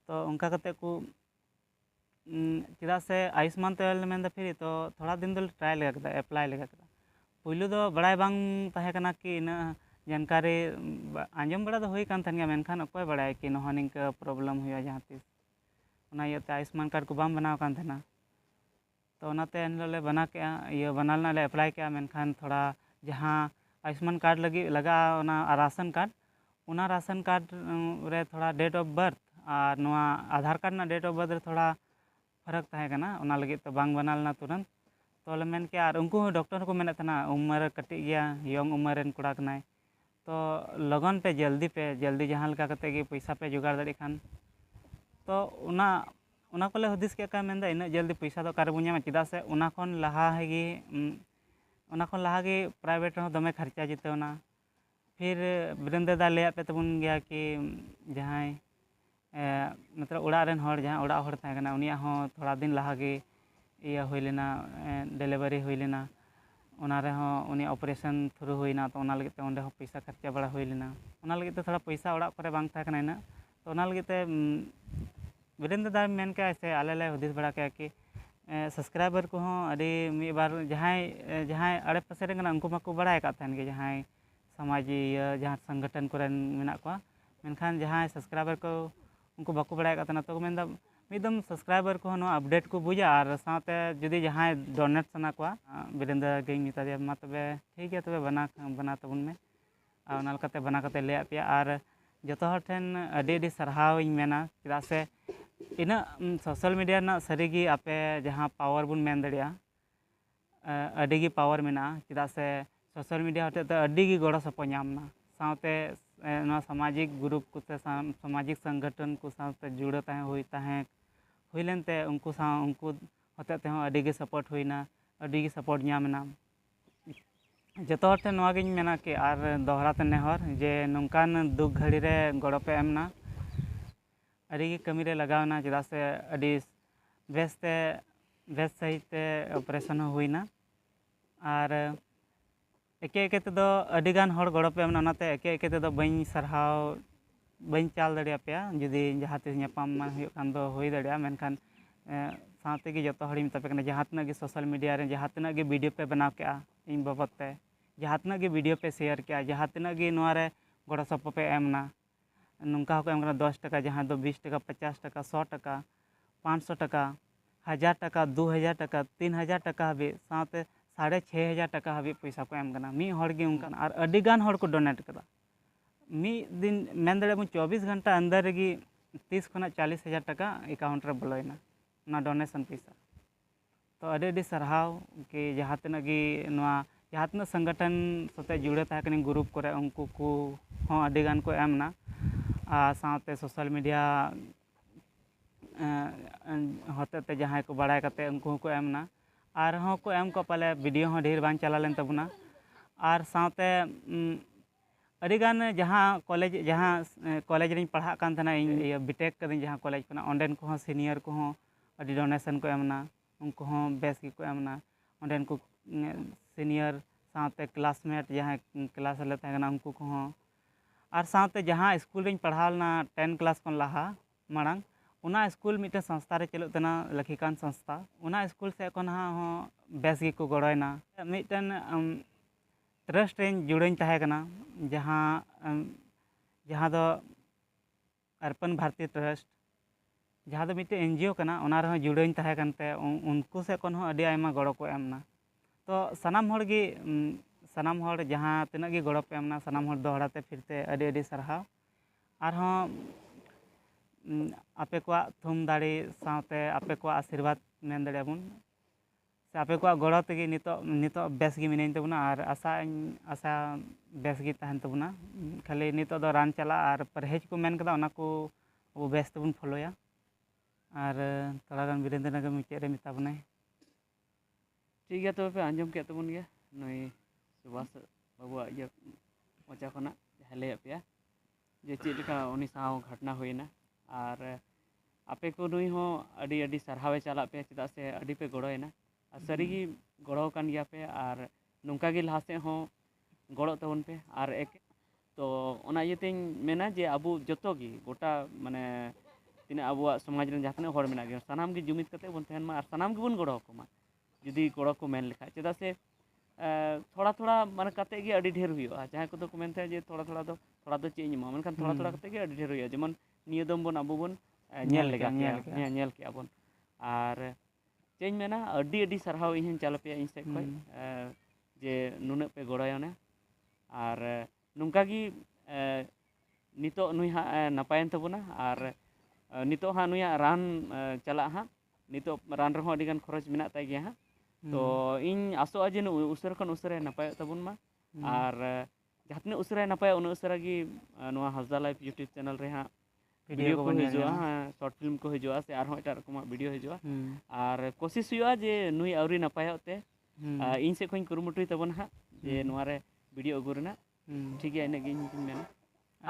S2: ᱛᱚ ᱚᱱᱠᱟ ᱠᱟᱛᱮᱫ ᱠᱚ ᱪᱮᱫᱟᱜ ᱥᱮ ᱟᱭᱩᱥᱢᱟᱱ ᱛᱮ ᱞᱮ ᱢᱮᱱᱫᱟ ᱯᱷᱨᱤ ᱛᱚ ᱛᱷᱚᱲᱟ ᱫᱤᱱ ᱫᱚᱞᱮ ᱴᱨᱟᱭ ᱞᱮᱜᱟ ᱠᱮᱫᱟ ᱮᱯᱞᱟᱭ ᱞᱮᱜᱟ ᱠᱮᱫᱟ ᱯᱳᱭᱞᱳ ᱫᱚ ᱵᱟᱲᱟᱭ ᱵᱟᱝ ᱛᱟᱦᱮᱸ ᱠᱟᱱᱟ ᱠᱤ ᱤᱱᱟᱹᱜ ᱡᱟᱱᱠᱟᱨᱤ ᱟᱸᱡᱚᱢ ᱵᱟᱲᱟ ᱫᱚ ᱦᱩᱭ ᱠᱟᱱ ᱛᱟᱦᱮᱱ ᱜᱮᱭᱟ ᱢᱮᱱᱠᱷᱟᱱ ᱚᱠᱚᱭ ᱵᱟᱲᱟᱭᱟ ᱠᱤ ᱱᱚᱣᱟ ᱱᱤᱝᱠᱟᱹ ᱯᱨᱚᱵᱞᱮᱢ ᱦᱩᱭᱩᱜᱼᱟ ᱡᱟᱦᱟᱸ ᱛᱤᱥ ᱚᱱᱟ ᱤᱭᱟᱹᱛᱮ ᱟᱭᱩᱥᱢᱟᱱ ᱠᱟᱨᱰ ᱠᱚ ᱵᱟᱝ ᱵᱮᱱᱟᱣ ᱠᱟᱱ ᱛᱟᱦᱮᱱᱟ ᱛᱚ ᱚᱱᱟᱛᱮ ᱮᱱ ᱦᱤᱞᱳᱜ ᱞᱮ ᱵᱟᱱᱟ ᱠᱮᱜᱼᱟ ᱤᱭᱟᱹ ᱵᱟᱱᱟ ᱨᱮᱱᱟᱜ ᱞᱮ ᱮᱯᱞᱟᱭ ᱠᱮᱜᱼᱟ ᱢᱮᱱᱠᱷᱟᱱ ᱛᱷᱚᱲᱟ ᱡᱟᱦᱟᱸ ᱟᱭᱩᱥᱢᱟᱱ ᱠᱟᱨᱰ ᱞᱟᱹᱜᱤᱫ ᱞᱟᱜᱟᱜᱼᱟ ᱚᱱᱟ ᱨᱟᱥᱚᱱ ᱠᱟᱨᱰ ᱚᱱᱟ ᱨᱟᱥᱚᱱ ᱠᱟᱨᱰ ᱨᱮ ᱛᱷᱚᱲᱟ ᱰᱮᱴ ᱚᱯᱷ ᱵᱟᱨᱛᱷ ᱟᱨ ᱱᱚᱣᱟ ᱟᱫᱷᱟᱨ ᱠᱟᱨᱰ ᱨᱮᱱᱟᱜ ᱰᱮᱴ ᱚᱯᱷ ᱵᱟᱨᱛᱷ ᱨᱮ ᱛᱷᱚᱲᱟ ᱯᱷᱟᱨᱟᱠ ᱛᱟᱦᱮᱸ ᱠᱟᱱᱟ ᱚᱱᱟ ᱞᱟᱹᱜᱤᱫ ᱛᱮ ᱵᱟᱝ ᱵᱟᱱᱟᱣ ᱞᱮᱱᱟ ᱛᱩᱨᱟᱹᱱᱛ ᱛᱚᱞᱮ ᱢᱮᱱ ᱠᱮᱜᱼᱟ ᱟᱨ ᱩᱱᱠᱩ ᱦᱚᱸ ᱰᱚᱠᱴᱚᱨ ᱦᱚᱸᱠᱚ ᱢᱮᱱᱮᱜ ᱛᱟᱦᱮᱱᱟ ᱩᱢᱟᱹᱨ ᱠᱟᱹᱴᱤᱡ ᱜᱮᱭᱟ ᱤᱭᱚᱝ ᱩᱢᱟᱹᱨ ᱨᱮᱱ ᱠᱚᱲᱟ ᱠᱟᱱᱟᱭ ᱛᱚ ᱞᱚᱜᱚᱱ ᱯᱮ ᱡᱚᱞᱫᱤ ᱯᱮ ᱡᱚᱞᱫᱤ ᱡᱟᱦᱟᱸ ᱞᱮᱠᱟ ᱠᱟᱛᱮᱫ ᱜᱮ ᱯᱚᱭᱥᱟ ᱯᱮ ᱡᱚᱜᱟᱲ ᱫᱟᱲᱮᱭᱟᱜ ᱠᱷᱟᱱ ᱛᱚ ᱚᱱᱟ ᱚᱱᱟ ᱠᱚᱞᱮ ᱦᱩᱫᱤᱥ ᱠᱮᱫ ᱠᱷᱟᱱ ᱢᱮᱱᱫᱟ ᱩᱱᱟᱹᱜ ᱡᱚᱞᱫᱤ ᱯᱚᱭᱥᱟ ᱫᱚ ᱚᱠᱟ ᱨᱮᱵᱚᱱ ᱧᱟᱢᱟ ᱪᱮᱫᱟᱜ ᱥᱮ ᱚᱱᱟ ᱠᱷᱚᱱ ᱞᱟᱦᱟ ᱜᱮ ᱚᱱᱟ ᱠᱷᱚᱱ ᱞᱟᱦᱟ ᱜᱮ ᱯᱨᱟᱭᱵᱷᱮᱴ ᱨᱮᱦᱚᱸ ᱫᱚᱢᱮ ᱠᱷᱚᱨᱪᱟ ᱡᱮᱛᱮ ᱚᱱᱟ ᱯᱷᱤᱨ ᱵᱤᱨᱮᱱᱫᱨᱚ ᱫᱟᱭ ᱞᱟᱹᱭᱟᱫ ᱯᱮ ᱛᱟᱵᱚᱱ ᱜᱮᱭᱟ ᱠᱤ ᱡᱟᱦᱟᱸᱭ ᱢᱚᱛᱞᱚᱵ ᱚᱲᱟᱜ ᱨᱮᱱ ᱦᱚᱲ ᱡᱟᱦᱟᱸᱭ ᱚᱲᱟᱜ ᱦᱚᱲ ᱛᱟᱦᱮᱸ ᱠᱟᱱᱟᱭ ᱩᱱᱤᱭᱟᱜ ᱦᱚᱸ ᱛᱷᱚᱲᱟ ᱫᱤᱱ ᱞᱟᱦᱟ ᱜᱮ ᱤᱭᱟᱹ ᱦᱩᱭ ᱞᱮᱱᱟ ᱰᱮᱞᱤᱵᱷᱟᱨᱤ ᱦᱩᱭ ᱞᱮᱱᱟ ᱚᱱᱟ ᱨᱮᱦᱚᱸ ᱩᱱᱤ ᱚᱯᱟᱨᱮᱥᱚᱱ ᱥᱩᱨᱩ ᱦᱩᱭᱱᱟ ᱛᱚ ᱚᱱᱟ ᱞᱟᱹᱜᱤᱫ ᱛᱮ ᱚᱸᱰᱮ ᱦᱚᱸ ᱯᱚᱭᱥᱟ ᱠᱷᱚᱨᱪᱟ ᱵᱟᱲᱟ ᱦᱩᱭ ᱞᱮᱱᱟ ᱚᱱᱟ ᱞᱟᱹᱜᱤᱫ ᱛᱮ ᱛᱷᱚᱲᱟ ᱯᱚᱭᱥᱟ ᱚᱲᱟᱜ ᱠᱚᱨᱮ ᱵᱟᱝ ᱛᱟᱦᱮᱸ ᱠᱟᱱᱟ ᱤᱱᱟᱹᱜ ᱛᱚ ᱚᱱᱟ ᱞᱟᱹᱜᱤᱫ ᱛᱮ ᱵᱤᱨᱮᱱ ᱫᱟᱫᱟᱭ ᱢᱮᱱ ᱠᱮᱜᱼᱟ ᱥᱮ ᱟᱞᱮ ᱞᱮ ᱦᱩᱫᱤᱥ ᱵᱟᱲᱟ ᱠᱮᱜᱼᱟ ᱠᱤ ᱥᱟᱵᱥᱠᱨᱟᱭᱵᱟᱨ ᱠᱚᱦᱚᱸ ᱟᱹᱰᱤ ᱢᱤᱫ ᱵᱟᱨ ᱡᱟᱦᱟᱸᱭ ᱡᱟᱦᱟᱸᱭ ᱟᱲᱮ ᱯᱟᱥᱮ ᱨᱮᱱ ᱠᱟᱱᱟ ᱩᱱᱠᱩ ᱢᱟᱠᱚ ᱵᱟᱲᱟᱭ ᱠᱟᱜ ᱛᱟᱦᱮᱱ ᱜᱮ ᱡᱟᱦᱟᱸᱭ ᱥᱚᱢᱟᱡᱽ ᱤᱭᱟᱹ ᱡᱟᱦᱟᱸ ᱥᱚᱝᱜᱚᱴᱷᱚᱱ ᱠᱚᱨᱮᱱ ᱢᱮᱱᱟᱜ ᱠᱚᱣᱟ ᱢᱮᱱᱠᱷᱟᱱ ᱡᱟᱦᱟᱸᱭ ᱥᱟᱵᱥᱠᱨᱟᱭᱵᱟᱨ ᱠᱚ ᱩᱱᱠᱩ ᱵᱟᱠᱚ ᱵᱟᱲᱟᱭ ᱠᱟᱫ ᱛᱟᱦᱮᱱᱟ ᱛᱚ ᱠᱚ ᱢᱮᱱᱫᱟ ᱢᱤᱫ ᱫᱚᱢ ᱥᱟᱵᱥᱠᱨᱟᱭᱵᱟᱨ ᱠᱚᱦᱚᱸ ᱱᱚᱣᱟ ᱟᱯᱰᱮᱴ ᱠᱚ ᱵᱩᱡᱟ ᱟᱨ ᱥᱟᱶᱛᱮ ᱡᱩᱫᱤ ᱡᱟᱦᱟᱸᱭ ᱰᱳᱱᱮᱴ ᱥᱟᱱᱟ ᱠᱚᱣᱟ ᱵᱤᱨᱮᱱᱫᱟ ᱜᱮᱧ ᱢᱮᱛᱟ ᱫᱮᱭᱟ ᱢᱟ ᱛᱚᱵᱮ ᱴᱷᱤᱠ ᱜᱮᱭᱟ ᱛᱚᱵᱮ ᱵᱮᱱᱟᱣ ᱵᱮᱱᱟᱣ ᱛᱟᱵᱚᱱ ᱢᱮ ᱟᱨ ᱚᱱᱟ ᱞᱮᱠᱟᱛᱮ ᱵᱮᱱᱟᱣ ᱠᱟᱛᱮᱫ ᱞᱟᱹᱭ ᱟᱫ ᱯᱮᱭᱟ ᱟᱨ ᱡᱚᱛᱚ ᱦᱚᱲ ᱴᱷᱮᱱ ᱟᱹᱰᱤ ᱟᱹᱰᱤ ᱥᱟᱨᱦᱟᱣ ᱤᱧ ᱢᱮᱱᱟ ᱪᱮᱫᱟᱜ ᱥᱮ ᱤᱱᱟᱹᱜ ᱥᱳᱥᱟᱞ ᱢᱤᱰᱤᱭᱟ ᱨᱮᱱᱟᱜ ᱥᱟᱹᱨᱤᱜᱮ ᱟᱯᱮ ᱡᱟᱦᱟᱸ ᱯᱟᱣᱟᱨ ᱵᱚᱱ ᱢᱮᱱ ᱫᱟᱲᱮᱭᱟᱜᱼᱟ ᱟᱹᱰᱤ ᱜᱮ ᱯᱟᱣᱟᱨ ᱢᱮᱱᱟᱜᱼᱟ ᱪᱮᱫᱟᱜ ᱥᱮ ᱥᱳᱥᱟᱞ ᱢᱤᱰᱤᱭᱟ ᱦᱚᱛᱮᱡ ᱛᱮ ᱟᱹᱰᱤ ᱜᱮ ᱜᱚᱲᱚ ᱥᱚᱯᱚᱦᱚᱫ ᱧᱟᱢ ᱮᱱᱟ ᱥᱟᱶᱛᱮ ᱱᱚᱣᱟ ᱥᱟᱢᱟᱡᱤᱠ ᱜᱨᱩᱯ ᱠᱚᱛᱮ ᱥᱟᱶ ᱥᱟᱢᱟᱡᱤᱠ ᱥᱚᱝᱜᱚᱴᱷᱚᱱ ᱠᱚ ᱥᱟᱶᱛᱮ ᱡᱩᱲᱟᱹᱣ ᱛᱟᱦᱮᱸ ᱦᱩᱭ ᱛᱟᱦᱮᱸ ᱦᱩᱭ ᱞᱮᱱ ᱛᱮ ᱩᱱᱠᱩ ᱥᱟᱶ ᱩᱱᱠᱩ ᱦᱚᱛᱮᱡ ᱛᱮᱦᱚᱸ ᱟᱹᱰᱤ ᱜᱮ ᱥᱟᱯᱳᱨᱴ ᱦᱩᱭ ᱮᱱᱟ ᱟᱹᱰᱤ ᱜᱮ ᱥᱟᱯᱳᱨᱴ ᱧᱟᱢ ᱮᱱᱟ ᱡᱚᱛᱚ ᱦᱚᱲ ᱴᱷᱮᱱ ᱱᱚᱣᱟ ᱜᱤᱧ ᱢᱮᱱᱟ ᱠᱤ ᱟᱨ ᱫᱚᱦᱲᱟ ᱛᱮ ᱱᱮᱦᱚᱨ ᱡᱮ ᱱᱚᱝᱠᱟᱱ ᱫᱩᱠ ᱜᱷᱟᱹᱲᱤ ᱨᱮ ᱜᱚᱲᱚ ᱯᱮ ᱮᱢ ᱮᱱᱟ ᱟᱹᱰᱤ ᱜᱮ ᱠᱟᱹᱢᱤ ᱨᱮ ᱞᱟᱜᱟᱣ ᱮᱱᱟ ᱪᱮᱫᱟᱜ ᱥᱮ ᱟᱹᱰᱤ ᱵᱮᱥ ᱛᱮ ᱵᱮᱥ ᱥᱟᱺᱦᱤᱡ ᱛᱮ ᱚᱯᱟᱨᱮᱥᱚᱱ ᱦᱚᱸ ᱦᱩᱭᱱᱟ ᱟᱨ ᱮᱠᱮ ᱮᱠᱮ ᱛᱮᱫᱚ ᱟᱹᱰᱤ ᱜᱟᱱ ᱦᱚᱲ ᱜᱚᱲᱚ ᱯᱮ ᱮᱢ ᱞᱮᱱᱟ ᱚᱱᱟᱛᱮ ᱮᱠᱮ ᱮᱠᱮ ᱛᱮᱫᱚ ᱵᱟᱹᱧ ᱥᱟᱨᱦᱟᱣ ᱵᱟᱹᱧ ᱪᱟᱞ ᱫᱟᱲᱮᱭᱟᱯᱮᱭᱟ ᱡᱩᱫᱤ ᱡᱟᱦᱟᱸ ᱛᱤᱥ ᱧᱟᱯᱟᱢ ᱮᱢᱟᱱ ᱦᱩᱭᱩᱜ ᱠᱷᱟᱱ ᱫᱚ ᱦᱩᱭ ᱫᱟᱲᱮᱭᱟᱜᱼᱟ ᱢᱮᱱᱠᱷᱟᱱ ᱥᱟᱶ ᱛᱮᱜᱮ ᱡᱚᱛᱚ ᱦᱚᱲᱤᱧ ᱢᱮᱛᱟ ᱯᱮ ᱠᱟᱱᱟ ᱡᱟᱦᱟᱸ ᱛᱤᱱᱟᱹᱜ ᱜᱮ ᱥᱳᱥᱟᱞ ᱢᱤᱰᱤᱭᱟ ᱨᱮ ᱡᱟᱦᱟᱸ ᱛᱤᱱᱟᱹᱜ ᱜᱮ ᱵᱷᱤᱰᱭᱳ ᱯᱮ ᱵᱮᱱᱟᱣ ᱠᱮᱜᱼᱟ ᱤᱧ ᱵᱟᱵᱚᱫ ᱛᱮ ᱡᱟᱦᱟᱸ ᱛᱤᱱᱟᱹᱜ ᱜᱮ ᱵᱷᱤᱰᱭᱳ ᱯᱮ ᱥᱮᱭᱟᱨ ᱠᱮᱜᱼᱟ ᱡᱟᱦᱟᱸ ᱛᱤᱱᱟᱹᱜ ᱜᱮ ᱱᱚᱣᱟ ᱨᱮ ᱜᱚᱲᱚ ᱥᱚᱯᱚᱦᱚᱫ ᱯᱮ ᱮᱢ ᱮᱱᱟ ᱱᱚᱝᱠᱟ ᱦᱚᱸᱠᱚ ᱮᱢ ᱠᱟᱱᱟ ᱫᱚᱥ ᱴᱟᱠᱟ ᱡᱟᱦᱟᱸᱭ ᱫᱚ ᱵᱤᱥ ᱴᱟᱠᱟ ᱯᱚᱪᱟᱥ ᱴᱟᱠᱟ ᱥᱚ ᱴᱟᱠᱟ ᱯᱟᱸᱥᱥᱚ ᱴᱟᱠᱟ ᱦᱟᱡᱟᱨ ᱴᱟᱠᱟ ᱫᱩ ᱦᱟᱡᱟᱨ ᱴᱟᱠᱟ ᱛᱤᱱ ᱦᱟᱡᱟᱨ ᱴᱟᱠᱟ ᱦᱟᱹᱵᱤᱡ ᱥᱟᱶᱛᱮ ᱥᱟᱲᱮ ᱪᱷᱚᱭ ᱦᱟᱡᱟᱨ ᱴᱟᱠᱟ ᱦᱟᱹᱵᱤᱡ ᱯᱚᱭᱥᱟ ᱠᱚ ᱮᱢ ᱠᱟᱱᱟ ᱢᱤᱫ ᱦᱚᱲ ᱜᱮ ᱚᱱᱠᱟᱱ ᱟᱨ ᱟᱹᱰᱤ ᱜᱟᱱ ᱦᱚᱲ ᱠᱚ ᱰᱳᱱᱮᱴ ᱠᱟᱫᱟ ᱢᱤᱫ ᱫᱤᱱ ᱢᱮᱱ ᱫᱟᱲᱮᱭᱟᱜ ᱵᱚᱱ ᱪᱚᱵᱵᱤᱥ ᱜᱷᱚᱱᱴᱟ ᱟᱱᱰᱟᱨ ᱨᱮᱜᱮ ᱛᱤᱨᱤᱥ ᱠᱷᱚᱱᱟᱜ ᱪᱚᱞᱞᱤᱥ ᱦᱟᱡᱟᱨ ᱴᱟᱠᱟ ᱮᱠᱟᱣᱩᱱᱴ ᱨᱮ ᱵᱚᱞᱚᱭᱮᱱᱟ ᱚᱱᱟ ᱰᱳᱱᱮᱥᱚᱱ ᱯᱚᱭᱥᱟ ᱛᱚ ᱟᱹᱰᱤ ᱟᱹᱰᱤ ᱥᱟᱨᱦᱟᱣ ᱠᱤ ᱡᱟᱦᱟᱸ ᱛᱤᱱᱟᱹᱜ ᱜᱮ ᱱᱚᱣᱟ ᱡᱟᱦᱟᱸ ᱛᱤᱱᱟᱹᱜ ᱥᱚᱝᱜᱚᱴᱷᱚᱱ ᱥᱟᱛᱮ ᱡᱩᱲᱟᱹᱣ ᱛᱟᱦᱮᱸ ᱠᱟᱹᱱᱟᱹᱧ ᱜᱨᱩᱯ ᱠᱚᱨᱮ ᱩᱱᱠᱩ ᱠᱚ ᱦᱚᱸ ᱟᱹᱰᱤ ᱜᱟᱱ ᱠᱚ ᱮᱢ ᱮᱱᱟ ᱟᱨ ᱥᱟᱶᱛᱮ ᱥᱳᱥᱟᱞ ᱢᱤᱰᱤᱭᱟ ᱦᱚᱛᱮᱡ ᱛᱮ ᱡᱟᱦᱟᱸᱭ ᱠᱚ ᱵᱟᱲᱟᱭ ᱠᱟᱛᱮᱫ ᱩᱱᱠᱩ ᱦᱚᱸᱠᱚ ᱮᱢ ᱮᱱᱟ ᱟᱨᱦᱚᱸ ᱠᱚ ᱮᱢ ᱠᱚᱜᱼᱟ ᱯᱟᱞᱮᱫ ᱵᱷᱤᱰᱤᱭᱳ ᱦᱚᱸ ᱰᱷᱮᱨ ᱵᱟᱝ ᱪᱟᱞᱟᱣ ᱞᱮᱱ ᱛᱟᱵᱚᱱᱟ ᱟᱨ ᱥᱟᱶᱛᱮ ᱟᱹᱰᱤᱜᱟᱱ ᱡᱟᱦᱟᱸ ᱠᱚᱞᱮᱡᱽ ᱡᱟᱦᱟᱸ ᱠᱚᱞᱮᱡᱽ ᱨᱤᱧ ᱯᱟᱲᱦᱟᱜ ᱠᱟᱱ ᱛᱟᱦᱮᱱᱟ ᱤᱧ ᱵᱤᱴᱮᱠ ᱠᱟᱹᱫᱟᱹᱧ ᱡᱟᱦᱟᱸ ᱠᱚᱞᱮᱡᱽ ᱠᱷᱚᱱᱟᱜ ᱚᱸᱰᱮᱱ ᱠᱚᱦᱚᱸ ᱥᱤᱱᱤᱭᱟᱨ ᱠᱚᱦᱚᱸ ᱟᱹᱰᱤ ᱰᱳᱱᱮᱥᱚᱱ ᱠᱚ ᱮᱢ ᱮᱱᱟ ᱩᱱᱠᱩ ᱦᱚᱸ ᱵᱮᱥ ᱜᱮᱠᱚ ᱮᱢ ᱮᱱᱟ ᱚᱸᱰᱮᱱ ᱠᱚ ᱥᱤᱱᱤᱭᱟᱨ ᱥᱟᱶᱛᱮ ᱠᱞᱟᱥᱢᱮᱴ ᱡᱟᱦᱟᱸᱭ ᱠᱞᱟᱥ ᱨᱮᱞᱮ ᱛᱟᱦᱮᱸ ᱠᱟᱱᱟ ᱩᱱᱠᱩ ᱠᱚᱦᱚᱸ ᱟᱨ ᱥᱟᱶᱛᱮ ᱡᱟᱦᱟᱸ ᱤᱥᱠᱩᱞ ᱨᱤᱧ ᱯᱟᱲᱦᱟᱣ ᱞᱮᱱᱟ ᱴᱮᱱ ᱠᱞᱟᱥ ᱠᱷᱚᱱ ᱞᱟᱦᱟ ᱢᱟᱲᱟᱝ ᱚᱱᱟ ᱤᱥᱠᱩᱞ ᱢᱤᱫᱴᱮᱱ ᱥᱚᱝᱥᱛᱷᱟ ᱨᱮ ᱪᱟᱹᱞᱩᱜ ᱛᱟᱦᱮᱱᱟ ᱞᱟᱹᱠᱷᱤᱠᱟᱱᱛ ᱥᱚᱝᱥᱛᱷᱟ ᱚᱱᱟ ᱤᱥᱠᱩᱞ ᱥᱮᱫ ᱠᱷᱚᱱ ᱦᱚᱸ ᱵᱮᱥ ᱜᱮᱠᱚ ᱜᱚᱲᱚᱭᱮᱱᱟ ᱢᱤᱫᱴᱮᱱ ᱴᱨᱟᱥᱴ ᱨᱤᱧ ᱡᱩᱲᱟᱹᱧ ᱛᱟᱦᱮᱸ ᱠᱟᱱᱟ ᱡᱟᱦᱟᱸ ᱡᱟᱦᱟᱸ ᱫᱚ ᱟᱨᱯᱟᱱ ᱵᱷᱟᱨᱛᱤ ᱴᱨᱟᱥᱴ ᱡᱟᱦᱟᱸ ᱫᱚ ᱢᱤᱫᱴᱮᱱ ᱮᱱ ᱡᱤ ᱳ ᱠᱟᱱᱟ ᱚᱱᱟ ᱨᱮᱦᱚᱸ ᱡᱩᱲᱟᱹᱣᱤᱧ ᱛᱟᱦᱮᱸ ᱠᱟᱱᱛᱮ ᱩᱱᱠᱩ ᱥᱮᱫ ᱠᱷᱚᱱ ᱦᱚᱸ ᱟᱹᱰᱤ ᱟᱭᱢᱟ ᱜᱚᱲᱚ ᱠᱚ ᱮᱢ ᱮᱱᱟ ᱛᱚ ᱥᱟᱱᱟᱢ ᱦᱚᱲ ᱜᱮ ᱥᱟᱱᱟᱢ ᱦᱚᱲ ᱡᱟᱦᱟᱸ ᱛᱤᱱᱟᱹᱜ ᱜᱮ ᱜᱚᱲᱚ ᱯᱮ ᱮᱢ ᱮᱱᱟ ᱥᱟᱱᱟᱢ ᱦᱚᱲ ᱫᱚᱦᱲᱟ ᱛᱮ ᱯᱷᱤᱨ ᱛᱮ ᱟᱹᱰᱤ ᱟᱹᱰᱤ ᱥᱟᱨᱦᱟᱣ ᱟᱨᱦᱚᱸ ᱟᱯᱮ ᱠᱚᱣᱟᱜ ᱛᱷᱩᱢ ᱫᱟᱲᱮ ᱥᱟᱶᱛᱮ ᱟᱯᱮ ᱠᱚᱣᱟᱜ ᱟᱥᱤᱨᱵᱟᱫᱽ ᱢᱮᱱ ᱫᱟᱲᱮᱭᱟᱜᱼᱟ ᱵᱚᱱ ᱥᱮ ᱟᱯᱮ ᱠᱚᱣᱟᱜ ᱜᱚᱲᱚ ᱛᱮᱜᱮ ᱱᱤᱛᱚᱜ ᱱᱤᱛᱚᱜ ᱵᱮᱥ ᱜᱮ ᱢᱤᱱᱟᱹᱧ ᱛᱟᱵᱚᱱᱟ ᱟᱨ ᱟᱥᱟᱜ ᱟᱹᱧ ᱟᱥᱟ ᱵᱮᱥ ᱜᱮ ᱛᱟᱦᱮᱱ ᱛᱟᱵᱚᱱᱟ ᱠᱷᱟᱹᱞᱤ ᱱᱤᱛᱚᱜ ᱫᱚ ᱨᱟᱱ ᱪᱟᱞᱟᱜ ᱟᱨ ᱯᱟᱨᱦᱮᱡᱽ ᱠᱚ ᱢᱮᱱ ᱠᱟᱫᱟ ᱚᱱᱟ ᱠᱚ ᱟᱵᱚ ᱵᱮᱥ ᱛᱮᱵᱚᱱ ᱯᱷᱳᱞᱳᱭᱟ ᱟᱨ ᱛᱷᱚᱲᱟ ᱜᱟᱱ ᱵᱤᱨᱮᱱᱫᱨᱚ ᱱᱟᱛᱷ ᱢᱩᱪᱟᱹᱫ ᱨᱮ ᱢᱮᱛᱟ ᱵᱚᱱᱟᱭ
S1: ᱴᱷᱤᱠ ᱜᱮᱭᱟ ᱛᱚᱵᱮ ᱯᱮ ᱟᱸᱡᱚᱢ ᱠᱮᱫ ᱛᱟᱵᱚᱱ ᱜᱮᱭᱟ ᱱᱩᱭ ᱥᱩᱵᱷᱟᱥ ᱵᱟᱹᱵᱩᱣᱟᱜ ᱤᱭᱟᱹ ᱢᱚᱪᱟ ᱠᱷᱚᱱᱟᱜ ᱡᱟᱦᱟᱸᱭ ᱞᱟᱹᱭᱟᱜ ᱯᱮᱭᱟ ᱡᱮ ᱪᱮᱫ ᱞᱮᱠᱟ ᱩᱱᱤ ᱥᱟᱶ ᱜᱷᱚᱴᱚᱱᱟ ᱦᱩᱭᱮᱱᱟ ᱟᱨ ᱟᱯᱮ ᱠᱚ ᱱᱩᱭ ᱦᱚᱸ ᱟᱹᱰᱤ ᱟᱹᱰᱤ ᱥᱟᱨᱦᱟᱣ ᱮ ᱪᱟᱞ ᱟᱯᱮᱭᱟ ᱪᱮᱫᱟᱜ ᱥᱮ ᱟᱹᱰᱤ ᱯᱮ ᱜᱚᱲᱚᱭᱮᱱᱟ ᱟᱨ ᱥᱟᱹᱨᱤ ᱜᱮ ᱜᱚᱲᱚ ᱟᱠᱟᱱ ᱜᱮᱭᱟ ᱯᱮ ᱟᱨ ᱱᱚᱝᱠᱟ ᱜᱮ ᱞᱟᱦᱟ ᱥᱮᱫ ᱦᱚᱸ ᱜᱚᱲᱚᱜ ᱛᱟᱵᱚᱱ ᱯᱮ ᱟᱨ ᱮᱠᱮᱱ ᱛᱚ ᱚᱱᱟ ᱤᱭᱟᱹ ᱛᱤᱧ ᱢᱮᱱᱟ ᱡᱮ ᱟᱵᱚ ᱡᱚᱛᱚ ᱜᱮ ᱜᱚᱴᱟ ᱢᱟᱱᱮ ᱛᱤᱱᱟᱹᱜ ᱟᱵᱚᱣᱟᱜ ᱥᱚᱢᱟᱡᱽ ᱨᱮᱱ ᱡᱟᱦᱟᱸ ᱛᱤᱱᱟᱹᱜ ᱦᱚᱲ ᱢᱮᱱᱟᱜ ᱠᱚᱣᱟ ᱥᱟᱱᱟᱢ ᱜᱮ ᱡᱩᱢᱤᱫ ᱠᱟᱛᱮᱫ ᱵᱚᱱ ᱛᱟᱦᱮᱱ ᱢᱟ ᱟᱨ ᱥᱟᱱᱟᱢ ᱜᱮᱵᱚᱱ ᱜᱚᱲᱚ ᱟᱠᱚ ᱢᱟ ᱡᱩᱫᱤ ᱜᱚᱲᱚ ᱠᱚ ᱢᱮᱱ ᱞᱮᱠᱷᱟᱱ ᱪᱮᱫᱟᱜ ᱥᱮ ᱛᱷᱚᱲᱟ ᱛᱷᱚᱲᱟ ᱢᱟᱱᱮ ᱠᱟᱛᱮᱫ ᱜᱮ ᱟᱹᱰᱤ ᱰᱷᱮᱨ ᱦᱩᱭᱩᱜᱼᱟ ᱡᱟᱦᱟᱸᱭ ᱠᱚᱫᱚ ᱠᱚ ᱢᱮᱱ ᱛᱟᱦᱮᱸᱫ ᱡᱮ ᱛᱷᱚᱲᱟ ᱛᱷᱚᱲᱟ ᱫᱚ ᱛᱷᱚᱲᱟ ᱫᱚ ᱪᱮᱫ ᱤᱧ ᱮᱢᱟᱢᱟ ᱢᱮᱱᱠᱷᱟᱱ ᱛᱷᱚᱲᱟ ᱛᱷᱚᱲᱟ ᱠᱟᱛᱮᱫ ᱜᱮ ᱟᱹᱰᱤ ᱰᱷᱮᱨ ᱦᱩᱭᱩᱜᱼᱟ ᱡᱮᱢᱚᱱ ᱱᱤᱭᱟᱹ ᱫᱚᱢ ᱵᱚᱱ ᱟᱵᱚ ᱵᱚᱱ ᱧᱮᱞ ᱞᱮᱜᱟ ᱠᱮᱜᱼᱟ ᱧᱮᱞ ᱠᱮᱜᱼᱟ ᱵᱚᱱ ᱟᱨ ᱪᱮᱫ ᱤᱧ ᱢᱮᱱᱟ ᱟᱹᱰᱤ ᱟᱹᱰᱤ ᱥᱟᱨᱦᱟᱣ ᱤᱧ ᱦᱚᱸᱧ ᱪᱟᱞ ᱟᱯᱮᱭᱟ ᱤᱧ ᱥᱮᱫ ᱠᱷᱚᱱ ᱡᱮ ᱱᱩᱱᱟᱹᱜ ᱯᱮ ᱜᱚᱲᱚ ᱟᱭᱟ ᱟᱨ ᱱᱚᱝᱠᱟ ᱜᱮ ᱱᱤᱛᱚᱜ ᱱᱩᱭ ᱦᱟᱸᱜ ᱱᱟᱯᱟᱭᱮᱱ ᱛᱟᱵᱚᱱᱟ ᱟᱨ ᱱᱤᱛᱚᱜ ᱦᱟᱸᱜ ᱱᱩᱭᱟᱜ ᱨᱟᱱ ᱪᱟᱞᱟᱜᱼᱟ ᱦᱟᱸᱜ ᱱᱤᱛᱚᱜ ᱨᱟᱱ ᱨᱮᱦᱚᱸ ᱟᱹᱰᱤ ᱜᱟᱱ ᱠᱷᱚᱨᱚᱪ ᱢᱮᱱᱟᱜ ᱛᱟᱭ ᱜᱮᱭᱟ ᱦᱟᱸᱜ ᱛᱚ ᱤᱧ ᱟᱥᱚᱜᱼᱟ ᱡᱮ ᱱᱩᱭ ᱩᱥᱟᱹᱨᱟ ᱠᱷᱚᱱ ᱩᱥᱟᱹᱨᱟᱭ ᱱᱟᱯᱟᱭᱚᱜ ᱛᱟᱵᱚᱱ ᱢᱟ ᱟᱨ ᱡᱟᱦᱟᱸ ᱛᱤᱱᱟᱹᱜ ᱩᱥᱟᱹᱨᱟᱭ ᱱᱟᱯᱟᱭᱚᱜ ᱩᱱᱟᱹᱜ ᱩᱥᱟᱹᱨᱟ ᱜᱮ ᱟᱸ, ᱱᱚᱣᱟ ᱦᱟᱸᱥᱫᱟ ᱞᱟᱭᱤᱵᱷ ᱤᱭᱩᱴᱩᱵᱽ ᱪᱮᱱᱮᱞ ᱨᱮ ᱦᱟᱸᱜ ᱵᱷᱤᱰᱤᱭᱳ ᱠᱚ ᱠᱚᱵᱚᱱ ᱧᱮᱞ ᱦᱤᱡᱩᱜᱼᱟ ᱧᱟᱢᱟ᱾ ᱦᱮᱸ ᱥᱚᱨᱴ ᱯᱷᱤᱞᱢ ᱠᱚ ᱦᱤᱡᱩᱜᱼᱟ ᱥᱮ ᱟᱨᱦᱚᱸ ᱮᱴᱟᱜ ᱨᱚᱠᱚᱢᱟᱜ ᱵᱷᱤᱰᱤᱭᱳ ᱦᱤᱡᱩᱜᱼᱟ ᱦᱩᱸ ᱟᱨ ᱠᱳᱥᱤᱥ ᱦᱩᱭᱩᱜᱼᱟ ᱡᱮ ᱱᱩᱭ ᱟᱹᱣᱨᱤ ᱱᱟᱯᱟᱭᱚᱜ ᱛᱮ ᱦᱩᱸ ᱟᱨ ᱤᱧ ᱥᱮᱫ ᱠᱷᱚᱱᱤᱧ ᱠᱩᱨᱩᱢᱩᱴᱩᱭ ᱛᱟᱵᱚᱱᱟ ᱦᱟᱸᱜ ᱡᱮ ᱦᱩᱸ ᱱᱚᱣᱟ ᱨᱮ ᱵᱷᱤᱰᱤᱭᱳ ᱟᱹᱜᱩ ᱨᱮᱱᱟᱜ ᱴᱷᱤᱠ ᱜᱮᱭᱟ ᱤᱱᱟᱹᱜ ᱜᱮ ᱤᱧ ᱦᱚᱸᱧ ᱢᱮᱱᱟ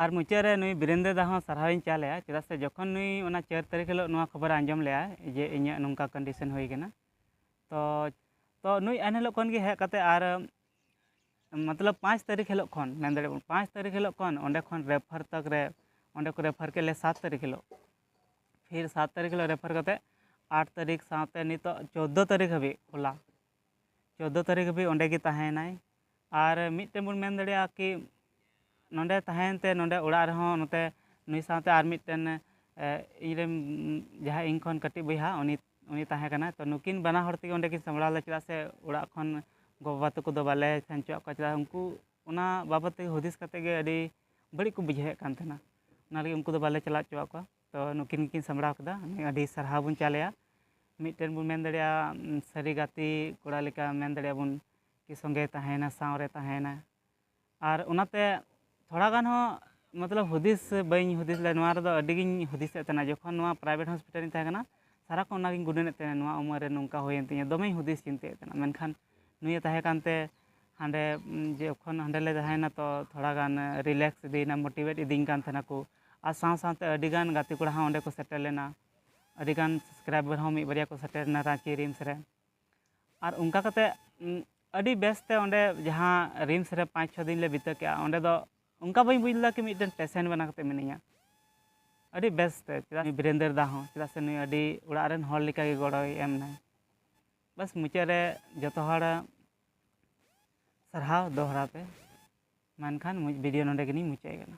S1: ᱟᱨ ᱢᱩᱪᱟᱹᱫ ᱨᱮ
S2: ᱱᱩᱭ ᱵᱤᱨᱮᱱ ᱫᱟᱫᱟ ᱦᱚᱸ ᱥᱟᱨᱦᱟᱣ ᱤᱧ ᱪᱟᱞ ᱟᱭᱟ ᱪᱮᱫᱟᱜ ᱥᱮ ᱡᱚᱠᱷᱚᱱ ᱱᱩᱭ ᱚᱱᱟ ᱪᱟᱨ ᱛᱟᱹᱨᱤᱠᱷ ᱦᱤᱞᱳᱜ ᱱᱚᱣᱟ ᱠᱷᱚᱵᱚᱨᱮ ᱟᱸᱡᱚᱢ ᱞᱮᱜᱼᱟ ᱡᱮ ᱤᱧᱟᱹᱜ ᱱᱚᱝᱠᱟ ᱠᱚᱱᱰᱤᱥᱮᱱ ᱦᱩᱭ ᱠᱟᱱᱟ ᱛᱚ ᱛᱚ ᱱᱩᱭ ᱮᱱ ᱦᱤᱞᱳᱜ ᱠᱷᱚᱱ ᱜᱮ ᱦᱮᱡ ᱠᱟᱛᱮ ᱟᱨ ᱢᱚᱛᱞᱚᱵ ᱯᱟᱸᱪ ᱛᱟᱹᱨᱤᱠᱷ ᱦᱤᱞᱳᱜ ᱠᱷᱚᱱ ᱢᱮᱱ ᱫᱟᱲᱮᱭᱟᱜ ᱵᱚᱱ ᱯᱟᱸᱪ ᱛᱟᱹᱨᱤᱠᱷ ᱦᱤᱞᱳᱜ ᱠᱷᱚᱱ ᱚᱸᱰᱮ ᱠᱷᱚᱱ ᱨᱮᱯᱷᱟᱨ ᱛᱚᱠ ᱨᱮ ᱚᱸᱰᱮ ᱠᱚ ᱨᱮᱯᱷᱟᱨ ᱠᱮᱫ ᱞᱮᱭᱟ ᱥᱟᱛ ᱛᱟᱹᱨᱤᱠᱷ ᱦᱤᱞᱳᱜ ᱯᱷᱤᱨ ᱥᱟᱛ ᱛᱟᱹᱨᱤᱠᱷ ᱦᱤᱞᱳᱜ ᱨᱮᱯᱷᱟᱨ ᱠᱟᱛᱮ ᱟᱴ ᱛᱟᱹᱨᱤᱠᱷ ᱥᱟᱶᱛᱮ ᱱᱤᱛᱚᱜ ᱪᱳᱫᱽᱫᱳ ᱛᱟᱹᱨᱤᱠᱷ ᱦᱟᱹᱵᱤᱡ ᱠᱷᱳᱞᱟ ᱪᱳᱫᱽᱫᱳ ᱛᱟᱹᱨᱤᱠᱷ ᱦᱟᱹᱵᱤᱡ ᱚᱸᱰᱮ ᱜᱮ ᱛᱟᱦᱮᱸᱭᱮᱱᱟᱭ ᱟᱨ ᱢᱤᱫᱴᱮᱱ ᱵᱚᱱ ᱢᱮᱱ ᱫᱟᱲᱮᱭᱟᱜᱼᱟ ᱠᱤ ᱱᱚᱸᱰᱮ ᱛᱟᱦᱮᱸᱭᱮᱱ ᱛᱮ ᱱᱚᱸᱰᱮ ᱚᱲᱟᱜ ᱨᱮᱦᱚᱸ ᱱᱚᱛᱮ ᱱᱩᱭ ᱥᱟᱶᱛᱮ ᱟᱨ ᱢᱤᱫᱴᱮᱱ ᱤᱧ ᱨᱮᱱ ᱡᱟᱦᱟᱸᱭ ᱤᱧ ᱠᱷᱚᱱ ᱠᱟᱹᱴᱤᱡ ᱵᱚᱭᱦᱟ ᱩᱱᱤ ᱩᱱᱤ ᱛᱟᱦᱮᱸ ᱠᱟᱱᱟᱭ ᱛᱚ ᱱᱩᱠᱤᱱ ᱵᱟᱱᱟ ᱦᱚᱲ ᱛᱮᱜᱮ ᱚᱸᱰᱮ ᱠᱤᱱ ᱥᱟᱢᱵᱽᱲᱟᱣ ᱞᱮᱫᱟ ᱪᱮᱫᱟᱜ ᱥᱮ ᱚᱲᱟᱜ ᱠᱷᱚᱱ ᱜᱚᱼᱵᱟᱵᱟ ᱛᱟᱠᱚ ᱫᱚ ᱵᱟᱞᱮ ᱥᱮᱱ ᱦᱚᱪᱚᱣᱟᱜ ᱠᱚᱣᱟ ᱪᱮᱫᱟᱜ ᱩᱱᱠᱩ ᱚᱱᱟ ᱵᱟᱵᱚᱫ ᱛᱮ ᱦᱩᱫᱤᱥ ᱠᱟᱛᱮᱫ ᱜᱮ ᱟᱹᱰᱤ ᱵᱟᱹᱲᱤᱡ ᱠᱚ ᱵᱩᱡᱷᱟᱹᱣᱮᱫ ᱠᱟᱱ ᱛᱟᱦᱮᱱᱟ ᱚᱱᱟ ᱞᱟᱹᱜᱤᱫ ᱩᱱᱠᱩ ᱫᱚ ᱵᱟᱞᱮ ᱪᱟᱞᱟᱣ ᱦᱚᱪᱚᱣᱟᱜ ᱠᱚᱣᱟ ᱛᱚ ᱱᱩᱠᱤᱱ ᱜᱮᱠᱤᱱ ᱥᱟᱢᱵᱽᱲᱟᱣ ᱠᱮᱫᱟ ᱟᱹᱰᱤ ᱥᱟᱨᱦᱟᱣ ᱵᱚᱱ ᱪᱟᱞᱮᱭᱟ ᱢᱤᱫᱴᱮᱱ ᱵᱚᱱ ᱢᱮᱱ ᱫᱟᱲᱮᱭᱟᱜᱼᱟ ᱥᱟᱹᱨᱤ ᱜᱟᱛᱮ ᱠᱚᱲᱟ ᱞᱮᱠᱟ ᱢᱮᱱ ᱫᱟᱲᱮᱭᱟᱜᱼᱟ ᱵᱚᱱ ᱠᱤ ᱥᱚᱸᱜᱮᱭ ᱛᱟᱦᱮᱸᱭᱮᱱᱟ ᱥᱟᱶᱨᱮ ᱛᱟᱦᱮᱸᱭᱮᱱᱟ ᱟᱨ ᱚᱱᱟᱛᱮ ᱛᱷᱚᱲᱟ ᱜᱟᱱ ᱦᱚᱸ ᱢᱚᱛᱞᱚᱵᱽ ᱦᱩᱫᱤᱥ ᱵᱟᱹᱧ ᱦᱩᱫᱤᱥ ᱞᱮᱫᱟ ᱱᱚᱣᱟ ᱨᱮᱫᱚ ᱟᱹᱰᱤ ᱜᱤᱧ ᱦᱩᱫᱤᱥᱮᱫ ᱛᱟᱦᱮᱱᱟ ᱡᱚᱠᱷᱚᱱ ᱱᱚᱣᱟ ᱯᱨᱟᱭᱵᱷᱮᱴ ᱦᱚᱥᱯᱤᱴᱟᱞ ᱨᱤᱧ ᱛᱟᱦᱮᱸ ᱠᱟᱱᱟ ᱥᱟᱨᱟ ᱠᱷᱚᱱ ᱚᱱᱟ ᱜᱤᱧ ᱜᱩᱱᱟᱹᱱᱮᱫ ᱛᱟᱦᱮᱱᱟ ᱱᱚᱣᱟ ᱩᱢᱟᱹᱨ ᱨᱮ ᱱᱚᱝᱠᱟ ᱦᱩᱭᱮᱱ ᱛᱤᱧᱟᱹ ᱫᱚᱢᱮᱧ ᱦᱩᱫᱤᱥ ᱪᱤᱱᱛᱟᱹᱭᱮᱫ ᱛᱟᱦᱮᱱᱟ ᱢᱮᱱᱠᱷᱟᱱ ᱱᱩᱭᱮ ᱛᱟᱦᱮᱸ ᱠᱟᱱᱛᱮ ᱦᱟᱸᱰᱮ ᱡᱚᱠᱷᱚᱱ ᱦᱟᱸᱰᱮ ᱞᱮ ᱛᱟᱦᱮᱸᱭᱮᱱᱟ ᱛᱚ ᱛᱷᱚᱲᱟ ᱜᱟᱱ ᱨᱤᱞᱮᱠᱥ ᱤᱫᱤᱭᱮᱱᱟ ᱢᱳᱴᱤᱵᱷᱮᱴ ᱤᱫᱤᱧ ᱠᱟᱱ ᱛᱟᱦᱮᱱᱟ ᱠᱚ ᱟᱨ ᱥᱟᱶ ᱥᱟᱶᱛᱮ ᱟᱹᱰᱤ ᱜᱟᱱ ᱜᱟᱛᱮ ᱠᱚᱲᱟ ᱦᱚᱸ ᱚᱸᱰᱮ ᱠᱚ ᱥᱮᱴᱮᱨ ᱞᱮᱱᱟ ᱟᱹᱰᱤ ᱜᱟᱱ ᱥᱟᱵᱥᱠᱨᱟᱭᱵᱟᱨ ᱦᱚᱸ ᱢᱤᱫ ᱵᱟᱨᱭᱟ ᱠᱚ ᱥᱮᱴᱮᱨ ᱞᱮᱱᱟ ᱨᱟᱺᱪᱤ ᱨᱤᱢᱥ ᱨᱮ ᱟᱨ ᱚᱱᱠᱟ ᱠᱟᱛᱮ ᱟᱹᱰᱤ ᱵᱮᱥ ᱛᱮ ᱚᱸᱰᱮ ᱡᱟᱦᱟᱸ ᱨᱤᱢᱥ ᱨᱮ ᱯᱟᱸᱪ ᱪᱷᱚ ᱫᱤᱱ ᱞᱮ ᱵᱤᱛᱟᱹᱣ ᱠᱮᱜᱼᱟ ᱚᱸᱰᱮ ᱫᱚ ᱚᱱᱠᱟ ᱵᱟᱹᱧ ᱵᱩᱡᱽ ᱞᱮᱫᱟ ᱠᱤ ᱢᱤᱫᱴᱮᱱ ᱯᱮᱥᱮᱱ ᱵᱮᱱᱟᱣ ᱠᱟᱛᱮ ᱢᱤᱱᱟᱹᱧᱟ ᱟᱹᱰᱤ ᱵᱮᱥ ᱛᱮ ᱪᱮᱫᱟᱜ ᱵᱤᱨᱮᱱᱫᱚᱨ ᱫᱟ ᱦᱚᱸ ᱪᱮᱫᱟᱜ ᱥᱮ ᱱᱩᱭ ᱟᱹᱰᱤ ᱚᱲᱟᱜ ᱨᱮᱱ ᱦᱚᱲ ᱞᱮᱠᱟ ᱜᱮ ᱜᱚᱲᱚᱭ ᱮᱢ ᱫᱟᱭ ᱵᱟᱥ ᱢᱩᱪᱟᱹᱫ ᱨᱮ ᱡᱚᱛᱚ ᱦᱚᱲ ᱥᱟᱨᱦᱟᱣ ᱫᱚᱦᱲᱟ ᱛᱮ ᱢᱮᱱᱠᱷᱟᱱ ᱵᱷᱤᱰᱤᱭᱳ ᱱᱚᱰᱮ ᱜᱮᱞᱤᱧ ᱢᱩᱪᱟᱹᱫ ᱠᱟᱱᱟ